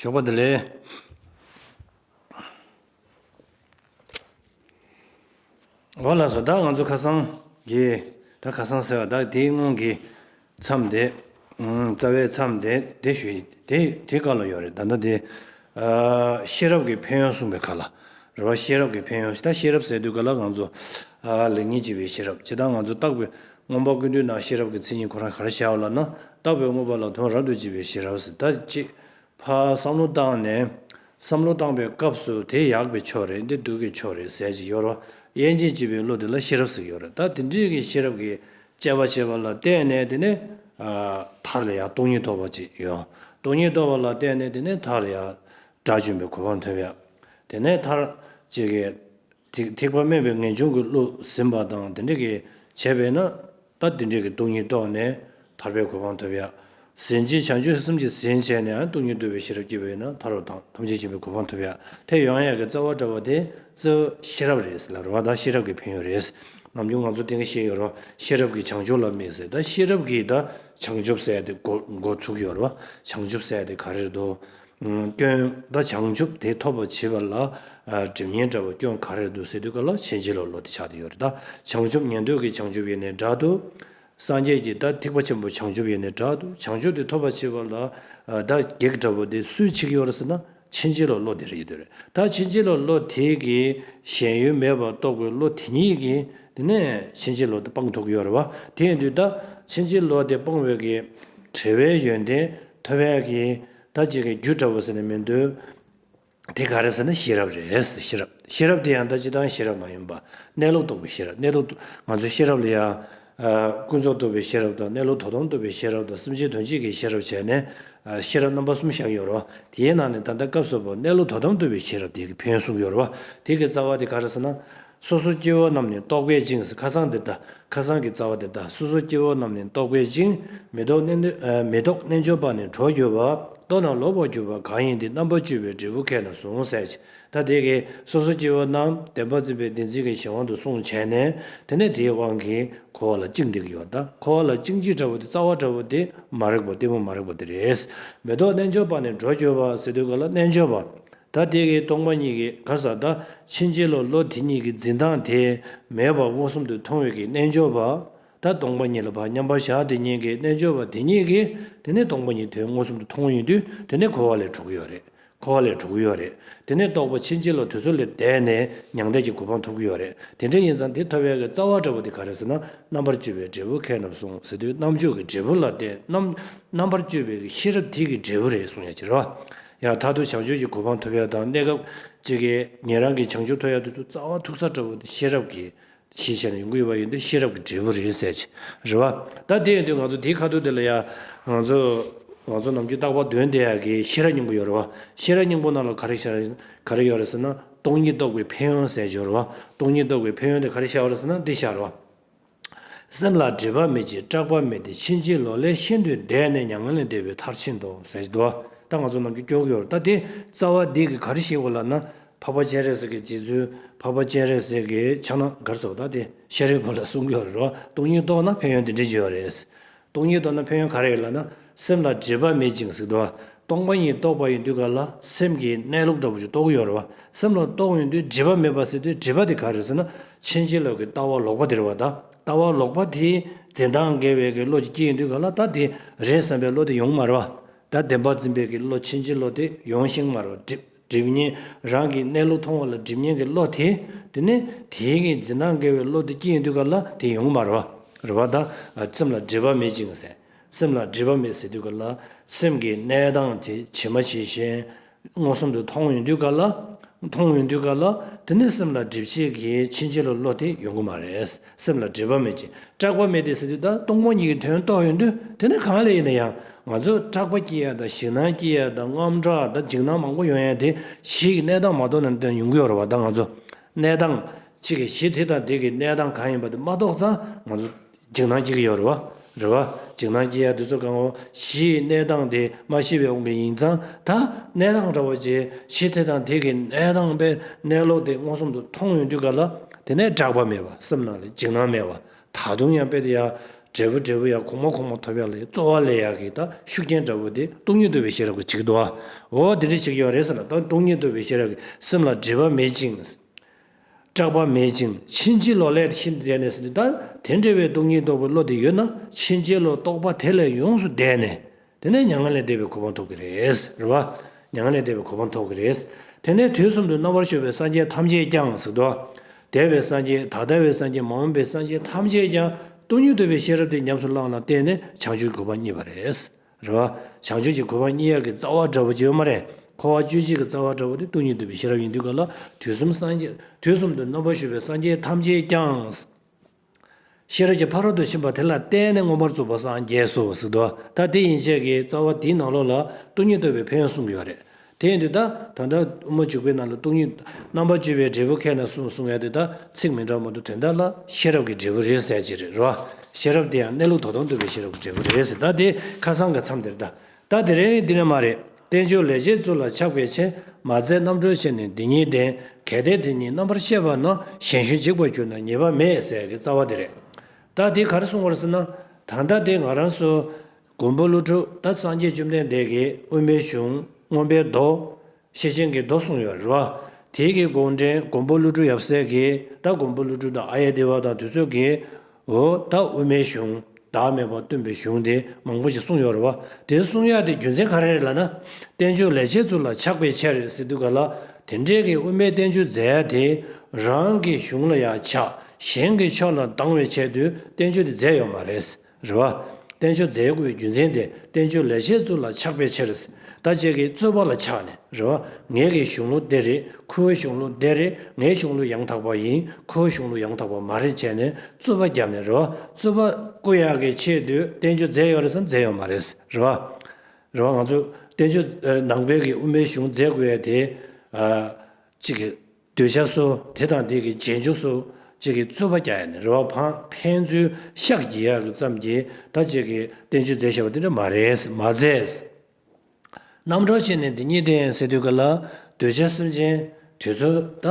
ཞོགས་པ་འདི་ལས། འོ་ལགས་སོ་བདག་ང་ཚོ་ཁ་སང་གི། ད་ཁ་སང་ཟེར་བ་བདག་དེའི་སྔོན་གྱི། མཚམས་དེ། རྩ་བའི་མཚམས་དེ་དེ་ཞུ་ཡིན། དེ་དེའི་བཀའ་ལ་ཡོད་རེད། ད་ལྟ་དེ། ཤེས་རབ་ཀྱི་ཕན་ཡོན་གསུངས་པའི་ཁ་ལ། རེ་བ་ཤེས་རབ་ཀྱི་ཕན་ཡོན་ད་ཤེས་རབ་ཟེར་དུས་ག་ལ་ང་ཚོ། ལེགས་ཉེས་འབྱེད་པའི་ཤེས་རབ་བྱེད་སྟངས་ང་ཚོ་བརྟག་པའི་རྔོན་པ་ཀུན་དུས་ན་ཤེས་རབ་ཀྱི་མཚན་ཉིད་ཁོ་རང་ག་རེ་ཤར་བ་ལ་ན་བརྟག་པའི་དངོས་པོ་ལ་དོན་རབ་ཏུ་འབྱེད་པའི་ཤེས་རབ་ཟེར་ད་ཅེས་ཕ་བསམ་བློ་བཏང་ནས། བསམ་བློ་བཏང་པའི་སྐབས་སུ་དེ་ཡག་པའི་ཕྱོགས་རེད་འདི་སྡུག་གི་ཕྱོགས་རེད་ཟེར་གྱི་ཡོད་རོ། དབྱེ་འབྱེད་བྱེད་པའི་བློ་དེ་ལ་ཤེས་རབ་ཟེར་གྱི་ཡོད་རེད་ད་དེ་འདྲའི་ཤེས་རབ་ཀྱི་སྤྱད་པ་བྱས་པ་ལ་བརྟེན་ནས་དེ་ནི་མཐར་ཡང་སྟོང་ཉིད་རྟོགས་པ་ཅིག་ཡོང། སྟོང་ཉིད་རྟོགས་པ་ལ་བརྟེན་ནས་དེ་ནི་མཐར་ཡང་དགྲ་བཅོམ་པའི་གོ་འཕང་ཐོབ་ཡ། དེ་ནས་མཐར། ཅེས་ཀྱི། ཐེག་པ་དམན་པའི་ངེས་འབྱུང་གི་བློ་ཟིན་པ་དང་དེ་འདྲ་གིས་བྱས་པས་ན། ད་དེ་འདྲ་གི་སྟོང་ཉིད་རྟོགས་ནས་ཐར་པའི་གོ་འཕང་ཐོབ་ཡ། ཟིན་བྲིས་བྱང་ཆུབ་སེམས་ཀྱིས་ཟིན་བྱས་ནས་སྟོང་ཉིད་བསྡུ་བའི་ཤེས་རབ་སྐྱེས་པས་ན་ཐར་བ་དང་ཐམས་ཅད་མཁྱེན་པའི་གོ་འཕང་ཐོབ་ཡ་དེ་ཡང་ཡག་གི་རྩ་བ་འདྲ་བ་དེ་རྩི་ཤེས་རབ་རེད་ལབ་རོགས་ད་ཤེས་རབ་ཀྱི་ཕན་ཡོད་རེད་ནམ་རྒྱུན་ང་ཚོ་དེང་གི་ཤེས་ཡོད་རོགས་ཤེས་རབ་ཀྱི་བྱང་ཆུབ་ལ་དམིགས་ཟེར་ད་ཤེས་རབ་ཀྱི་ད་བྱང་ཆུབ་སེལ་དེ་འགོ་ཚུགས་ཡོད་རོགས་བྱང་ཆུབ་སེལ་དེ་ག་རེར་འདུག་སྐྱོན་ད་བྱང་ཆུབ་དེ་ཐོབ་པ་བྱེད་པ་ལ་སྒྲིབ་ཉེན་འདྲ་བ་སྐྱོན་ག་རེར་འདུག་སེལ་དུས་ག་ལ་ཕྱིན་ཅི་ལོག་ལོག་དེ་ཆགས་དེ་ཡོད་རེད་ད་བྱང་ཆུབ་ཉན་ཐོས་ཀྱི་བྱང་ཆུབ་ཡེ་ནས་འདྲ་འདུག་སངས་རྒྱས་ཀྱིས་ད་ཐིག་པ་ཆེན་པོ་བྱང་ཆུབ་ཡེ་ནས་དྲག་ཏུ་བྱང་ཆུབ་དེ་ཐོབ་པར་བྱེད་པ་ལ་ད་གེགས་དྲག་པོ་དེ་སུས་ཆིག་ཡོར་ཟེར་ན་ཕྱིན་ཅི་ལོག་བློ་དེ་རེད་དེ་རེད་ད་ཕྱིན་ཅི་ལོག་བློ་དེ་གིས་གཞན་ཡུལ་མེད་པར་རྟོགས་པའི་བློ་དེ་ཉིད་ཀྱིས་དེ་ནས་ཕྱིན་ཅི་ལོག་དེ་སྤངས་ཐུག་ཡོར་བ་དེ་ཡིན་དུས་ད་ཕྱིན་ཅི་ལོག་དེ་སྤངས་བའི་གེགས་བྲལ་བའི་ཡོན་ཏན་ཐོབ་བས་གིས་ད་གེགས་ཀྱི་རྒྱུ་དྲག་པོ་ཟེར་ནས་མི་འདོད། དེ་ག་རེད་ཟེར་ན་ཤེས་རབ་རེད། ཤེས་རབ། ཤེས་རབ་དེ་ཡང་ད་ཅི་ལྟར་ཤེས་རབ་མ་ཡིན་པ། གནས་ལུགས་རྟོགས་པའི་ཤེས་རབ། གནས་ལུགས། ང་ཚོའི་ཤེས་རབ་ལ་ཡང། ཀུན་རྫོབ་རྟོགས་པའི་ཤེས་རབ་དང་གནས་ལུགས་དོ་དམ་རྟོགས་པའི་ཤེས་རབ་དང་སེམས་ཅན་དོན་བྱེད་ཀྱི་ཤེས་རབ་བྱས་ནས། ཤེས་རབ་རྣམ་པ་གསུམ་བཞག་ཡོད་རོ། དེའི་ནང་ནས་ད་ལྟ་སྐབས་སུ་བབ་གནས་ལུགས་དོ་དམ་རྟོགས་པའི་ཤེས་རབ་དེ་གི་བོན་གསུངས་ཡོད་རོ། དེ་གི་རྩ་བ་དེ་ག་རེད་ཟེར་ན། སོ་སོ་སྐྱེ་བོ་རྣམས་ནི་རྟོག་པས་བཅིངས་སེ་ཁ་སང་འདི་ལྟ་ཁ་སང་གི་རྩ་བ་འདི་ལྟ་སོ་སོ་སྐྱེ་བོ་རྣམས་ནི་རྟོག་པས་བཅིངས། མི་རྟོག་རྣལ་འབྱོར་པ་ནི་གྲོགས་གྱུར་པ། རྟོགས་ན་ལོག་པར་གྱུར་པ་གང་ཡིན་དེ་རྣམ་པར་གཅོད་པའི་འབྲས་བུ་མཁས་ན་གཟུང་བསལ་བྱེད་ད་དེ་ཀའི་སོ་སོ་སྐྱེ་བོ་རྣམས་བདེན་པར་འཛིན་པའི་བདེན་འཛིན་གྱི་གཞན་དབང་དུ་སོང་བྱས་ནས་དེ་ནས་དེའི་དབང་གིས་འཁོར་བ་ལ་བཅིངས་འདི་ཀྱི་ཡོ་ད་འཁོར་བ་ལ་བཅིངས་བྱེད་འདྲ་བོ་དེ་རྩ་བ་འདྲ་བོ་དེ་མ་རིག་པ་གཏི་མུག་མ་རིག་པ་དེ་རེད། མི་རྟོག་རྣལ་འབྱོར་པ་ནི་གྲོགས་གྱུར་པ་སེ་དུས་ཀ་ལ་རྣལ་འབྱོར་པ། ད་ལྟའི་ཁའི་སྟོང་པ་གཉིས་ཀྱི་ག་ས་ད་ཕྱིན་ཅི་ལོག་ལོ་དེ་གཉིས་ཀྱི་འཛིན་སྟངས་དེ་མེད་པར་མངོན་སུམ་དུ་མཐོང་བས་ཀྱི་རྣལ་འབྱོར་པ་ད་སྟོང་པ་ཉིད་ལ་བར་མཉམ་པར་བཞག་དེ་ཉིད་ཀྱི་རྣལ་འབྱོར་པ་དེ་ཉིད་ཀྱིས་དེ་ནས་སྟོང་པ་ཉིད་དེ་མངོན་སུམ་དུ་མཐོང་ཡིན་དུས་དེ་ནས་འཁོར་བ་ལས་གྲོལ་གྱི་ཡོད་རེད་འཁོར་བ་ལས་གྲོལ་གྱི་ཡོད་རེད་དེ་ནས་རྟོགས་པ་ཕྱིན་ཅི་ལོག་དུས་ཚོད་ལས་འདས་ནས་མྱང་འདས་ཀྱི་གོ་འཕང་ཐོབ་ཀྱི་ཡོད་རེད་དེ་འདྲ་ཡིན་ཙང་དེ་ཐོབ་བས་ཀྱི་རྩ་བ་འདྲ་པོ་དེ་ག་རེ་ཟེར་ན་རྣམ་པར་དཔྱོད་པའི་འབྲས་བུ་མཁས་རྣམས་གསུངས་ཟིན་དུས་རྣམ་དཔྱོད་ཀྱི་འབྲས་བུ་ལ་བརྟེན་རྣམ་རྣམ་པར་དཔྱོད་པའི་ཤེས་རབ་དེ་ཀྱི་འབྲས་བུ་རེད་གསུངས་ཡ་ཅི་རེ་བ། ཡང་དག་ཏུ་བྱང་ཆུབ་ཀྱི་གོ་འཕང་ཐོབ་ཡ་དང་གནས་སྐབས་ཅི་གའི་ཉན་རང་གིས་བྱང་ཆུབ་ཐོབ་ཡ་དུ་ཆུ་རྩ་བ་མཐུག་ས་ལྟ་བུ་དེ་ཤེས་རབ་ཀྱིས་ཞེས་བྱ་ནི་ཡོངས་གྱུར་པ་ཡིན་ཏེ་ཤེས་རབ་ཀྱི་འབྲས་བུ་རེད་གསལ་བྱེད་རེད་བ། ད་དེ་ཡིན་དུས་ང་ཚོ་དེའི་ཁ་ཐུག་དེ་ལ་ཡ། ང་ཚོ། ང་ཚོ་ནམ་རྒྱུན་རྟག་པར་དོན་དེ་ཡ་གི་ཤེས་རབ་སྙིང་པོ་ཡོད་རེད་བ། ཤེས་རབ་སྙིང་པོ་རྣམས་ལ་ག་རེ་ཤར། ག་རེ་ཡོད་རེད་ཟེར་ན་སྟོང་ཉིད་རྟོགས་པའི་ཕན་ཡོན་གསལ་བྱེད་རེད་བ། སྟོང་ཉིད་རྟོགས་པའི་ཕན་ཡོན་དེ་ག་རེ་ཤར་བ་རེད་ཟེར་ན་འདི་ཤར་བ། སེམས་ལ་སྒྲིབ་པ་མེད་ཅིང་སྐྲག་པ་མེད་དེ་ཕྱིན་ཅི་ལོག་ལས་ཤིན་ཏུ་འདས་ནས་མྱ་ངན་ལས་འདས་པའི་མཐར་ཕྱིན་ཏོ། ཟད་དོ། ད་ང་ཚོ་རྣམས་ཀྱི་སྐྱོ་གུ་ཡོར་ད་དེ་རྩ་བ་འདི་གི་གར་ཞིག་བོ་ལབ་ན་འཕགས་པ་སྤྱན་རས་གཟིགས་ཀྱི་རྗེ་བཙུན་འཕགས་པ་སྤྱན་རས་གཟིགས་ཀྱི་ཕྱག་ན་གར་ཚོགས་ད་དེ་ཤེས་རིག་བོ་ལ་གསུང་གི་ཡོར་རོ་སྟོང་ཉིད་རྟོགས་ན་ཕན་ཡོན་འདི་འདྲའི་འབྱོན་བ་རེད། སྟོང་ཉིད་རྟོགས་ན་ཕན་ཡོན་ག་རེ་ཡོད་ལབ་ན་སེམས་ལ་འབྲེལ་པ་མེད་ཅིང་གཟིགས་དུ་སྟོང་པ་ཉིད་རྟོགས་པ་ཡིན་དུས་ག་ལ་སེམས་ཀྱི་གནས་ལུགས་འདྲ་པོ་ཞིག་རྟོགས་ཀྱི་ཡོད་རེད་བ། སེམས་ལ་རྟོགས་ཡོང་དུས་འབྲེལ་པ་མེད་པ་ཟེར་དུས་འབྲེལ་པ་དེ་ག་རེད་ཟེར་ན་ཕྱིན་ཅི་ལོག་གི་ལྟ་བ་ལོག་པ་དེ་རེད་བ་ད་ལྟ་བ་ལོག་པ་དེའི་འཛིན་སྟངས་འགལ་བའི་གི་བློ་ཅིག་སྐྱེས་ཡོང་དུས་ག་ལ་ད་དེ་རེད་བསམ་པའི་བློ་དེ་ཡོང་མ་རེད་བ། ད་བདེན་པ་འཛིན་པའི་གི་བློ་ཕྱིན་ཅི་ལོག་དེ་ཡོང་ཞིང་མ་རེད་བ། སྒྲིབ་གཉེན་རང་གིས་གནས་ལུགས་མཐོང་བ་ལ་སྒྲིབ་གཉེན་གྱི་བློ་དེ། དེ་ནས་དེའི་གིས་འཛིན་སྣང་འགལ་བའི་བློ་དེ་སྐྱེས་ཡིན་དུས་ཀ་ལ་དེ་ཡོང་མ་རུང། རུང་བ་དང། སེམས་ལ་སྒྲིབ་པ་མེད་ཅིང། སེམས་ལ་སྒྲིབ་པ་མེད་ཟེར་དུས་ཀ་ལ། སེམས་ཀྱི་གནས་སྟངས་དེ་ཇི་མ་ཇི་བཞིན། མངོན་སུམ་དུ་མཐོང་ཡོང་དུས་ཀ་ལ། མཐོང་ཡོང་དུས་ཀ་ལ། དེ་ནས་སེམས་ལ་སྒྲིབ་བྱེད་ཀྱི་ཕྱིན་ཆད་ལ་བློ་དེ་ཡོང་གི་མ་རེད། སེམས་ལ་སྒྲིབ་པ་མེད་ཅིང་སྐྲག་པ་མེད་དེ་ཟེར་དུས་ད་སྟོང་པ་ཉིད་ཀྱི་དོན་རྟོགས་ཡོང་དུས་དེ་ནི་གང་ལས་ཡིན་ན་ཡང་ང་ཚོས་སྐྲག་པ་སྐྱེ་ཡག་དང་ཞིང་ནང་སྐྱེ་ཡག་དང་རྔམ་སྐྲག་དང་འཇིགས་སྣང་མང་པོ་ཡོང་ཡག་དེ་གཞིས་ཀྱི་གནས་སྟངས་མ་རྟོགས་ན་དོན་ཡོང་གི་ཡོད་རེད་བ་ད་ང་ཚོ་གནས་སྟངས་གཅིག་གི་གཞི་དེ་དང་དེ་གི་གནས་སྟངས་གང་ཡིན་པ་དེ་མ་རྟོགས་ཙང་ང་ཚོ་འཇིགས་སྣང་སྐྱེ་གི་ཡོད་རེད་བ། རེ་བ། འཇིགས་སྣང་སྐྱི་གཡའ་བདུད་རྩི་གང་བ། གཞི་ཡི་གནས་དང་དེ་མ་ཤི་བའི་དབང་པོའི་ཡིན་ཙང་ད་གནས་དང་འདྲ་བ་ཅན་གཞི་དེ་དང་དེ་གི་གནས་དང་པའི་གནས་ལོག་དེ་མངོན་སུམ་དུ་མཐོང་ཡོང་དུས་ག་ལ་དེ་ནས་སྐྲག་པ་མེད་པ་སེམས་ནང་ལས་འཇིགས་སྣང་མེད་པ་ད་དུང་ཡང་དཔེ་དེ་ཡང་འབྲས་བུ་འབྲས་བུ་ཡང་གོང་མ་གོང་མ་ཐོབ་ཡག་ལས་རྩོལ་བ་ལས་ཡག་གི་ད་ཤུགས་རྐྱེན་འདྲ་བོ་དེ་སྟོང་ཉིད་དུ་བའི་ཤེས་རབ་ཀྱི་ཆིག་རྡོ་འོ་འདི་འདྲའི་ཆིག་རྐྱོ་རེད་ཟེར་ལ་ད་སྟོང་ཉིད་དུ་བའི་ཤེས་རབ་ཀྱི་སེམས་ལ་སྒྲིབ་པ་མེད་ཅིང། སྐྲག་པ་མེད་ཅིང་ཕྱིན་ཅི་ལོག་ལས་ཤིན་ཏུ་འདས་ནས་སོ། དེ་འདྲ་བའི་སྟོང་ཉིད་རྟོགས་པའི་བློ་དེ་ཡོད་ན་ཕྱིན་ཅི་ལོག་རྟོག་པ་དེ་ལས་ཡོངས་སུ་འདས་ནས། དེ་ནས་མྱ་ངན་ལས་འདས་པའི་གོ་འཕང་ཐོབ་ཀྱི་རེད། རེད་བ། མྱ་ངན་ལས་འདས་པའི་གོ་འཕང་ཐོབ་ཀྱི་རེད། དེ་ནས་དུས་གསུམ་དུ་རྣམ་པར་ཤོག་པའི་སངས་རྒྱས་ཐམས་ཅད་ཀྱང་གཟིགས་སྟོ། དད་པའི་སངས་རྒྱས་ད་ལྟ་བའི་སངས་རྒྱས་མ་འོངས་པའི་སངས་རྒྱས་ཐམས་ཅད་ཀྱང་སྟོང་ཉིད་རྟོགས་པའི་ཤེས་རབ་དེ་ཉམས་སུ་བླངས་ལ་བརྟེན་ནས་བྱང་ཆུབ་གྱི་གོ་འཕང་རྙེད་པ་རེད། རེད་བ། བྱང་ཆུབ་ཀྱི་གོ་འཕང་གཉིས་ཡར་གྱི་རྩ་བ་འདྲ་བོ་ཅི་ཡོད་མ་རེད། འཁོར་བ་བཅུའི་རྗེས་ཀྱི་རྩ་བ་འདྲ་བོ་དེ་སྟོང་ཉིད་འདུས་པའི་ཤེས་རབ་ཡིན་དུས་ག་ལ་དུས་གསུམ་སངས་རྒྱས། དུས་གསུམ་དུ་རྣམ་པར་བཞུགས་པའི་སངས་རྒྱས་ཐམས་ཅད་ཀྱང། ཤེས་རབ་ཀྱི་ཕ་རོལ་ཏུ་ཕྱིན་པ་དེ་ལ་བརྟེན་ནས་མངོན་པར་རྫོགས་པར་སངས་རྒྱས་སུ་གཟིགས། ད་དེ་ཡན་ཆད་ཀྱི་རྩ་བ་དེའི་ནང་ལོགས་ལ་སྟོང་ཉིད་རྟོགས་པའི་ཕན་ཡོན་གསུངས་ཀྱི་ཡོད་རེད། དེས་འདི་ལྟར་ད་ལྟར་དབུ་མ་འཇུག་པའི་ནང་ལ་སྟོང་ཉིད་རྣམ་པ་བཅུ་པའི་འབྲས་བུ་ཁས་ན་གསུངས་གསུང་ཡང་དེ་དག་ཚིག་མི་འདྲ་མོ་འདུག་དེ་འདྲ་ལ་ཤེས་རབ་ཀྱི་འབྲས་བུ་རེད་གསལ་བྱེད་རེད་རོ། ཤེས་རབ་དེ་ཡང་གནས་ལུགས་དོ་དོང་སྟོན་པའི་ཤེས་རབ་ཀྱི་འབྲས་བུ་རེད་ཟེར་ད་དེ་ཁ་སང་གི་མཚམས་དེར་ད་ལྟ་དེ་རེད་འདི་ནི་མ་རེད། བསྟན་བཅོས་ལས་རྗེ་བཙུན་ལ་ཆགས་པའི་ཕྱིར་མ་བཙལ་རྣམ་གྲོལ་ཕྱིར་ནི་འདི་ཉིད་བདེན། གལ་ཏེ་དེ་ཉིད་རྣམ་པར་ཤེས་པ་ན་གཞན་ཞུན་འཇིག་པར་གྱུར་ན་ཉེས་པ་མེད་ཟེར་གྱི་རྩ་བ་དེ་རེད། ད་དེ་གར་གསུངས་བར་ཟེར་ན། ད་ལྟ་དེ་ང་རང་སོ། མགོན་པོ་ཀླུ་སྒྲུབ་ད་སངས་རྒྱས་བཅོམ་ལྡན་འདས་ཀྱིས་དབུ་མའི་གཞུང་མངོན་པའི་མདོ། ཤེར་ཕྱིན་གྱི་མདོ་གསུངས་ཡོད་རེད་པ། དེའི་གི་དགོངས་འགྲེལ་མགོན་པོ་ཀླུ་སྒྲུབ་ཡབ་སྲས་ཀྱིས་ད་མགོན་པོ་ཀླུ་སྒྲུབ་དང་ཨ་ཡེ་ཏི་བ་དང་དུས་ཚོད་ཀྱིས། འོ་ད་དབུ་མའི་གཞུང་བདག་མེད་པར་སྟོན་པའི་གཞུང་དེ་མང་པོ་ཞིག་གསུངས་ཡོད་རེད་བ། དེ་གསུང་ཡ་དེ་རྒྱུ་མཚན་ག་རེ་རེད་ལ་ན། བསྟན་བཅོས་ལས་བྱེད་ཚུལ་ལ་ཆགས་པའི་ཆ་རེད་ཟེར་འདུག་ག་ལ་དེ་འདྲའི་གི་དབུ་མའི་བསྟན་བཅོས་མཛད་ཡ་དེ་རང་གི་གཞུང་ལ་ཡ་ཆགས་གཞན་གྱི་ཕྱོགས་ལ་སྡང་བའི་ཆེད་དུ་བསྟན་བཅོས་དེ་མཛད་ཡོད་མ་རེད། རེ་བ། བསྟན་བཅོས་མཛད་སྒོའི་རྒྱུ་མཚན་དེ་བསྟན་བཅོས་ལས་བྱེད་གཙོ་ལ་ཆགས་པའི་ཕྱིར། ད་ཅེ་ཀའི་རྩོད་པ་ལ་ཆགས་ནས་རེ་བ། ངེད་ཀྱི་གཞུང་ལུགས་འདི་རེད་ཁོའི་གཞུང་ལུགས་འདི་རེད་ངའི་གཞུང་ལུགས་ཡང་དག་པ་ཡིན་ཁོའི་གཞུང་ལུགས་ཡང་དག་པ་མ་རེད་བྱས་ནས་རྩོད་པ་བརྒྱབ་ནས་རེ་བ། རྩོད་པ། སྐུ་ཡག་གི་ཆེད་དུ་བསྟན་བཅོས་མཛད་ཡོད་རེད་བསམ་མཛད་ཡོད་མ་རེད། རེ་བ། རེ་བ་ང་ཚོས་བསྟན་བཅོས་ནང་པའི་གི་དབུ་མའི་གཞུང་མཛད་དགོས་ཡས་དེ། ཅི། འདོད་ཆགས་སོ། དེ་དང་དེ་གི་རྗེས་འཇུག་སོ། ཅེས་ཀྱི་རྩོད་པ་བརྒྱ་ཡན་ནས་རེ་བ་འཕངས་ཕན་ཚུན་ཤགས་ཀྱིས་ཡར་བརྩམས་ཀྱི་ད་ཅེས་ཀྱི་བསྟན་བཅོས་མཛད་བྱ་བ་དེ་འདྲ་མ་རེད་མ་མཛད། རྣམ་གྲངས་ཕྱེ་ནས་འདི་གཉིས་བསྟན་ཟེར་དུས་ག་ལ་འདོད་ཆགས་སེམས་ཅན་དེ་ཚོ་ད་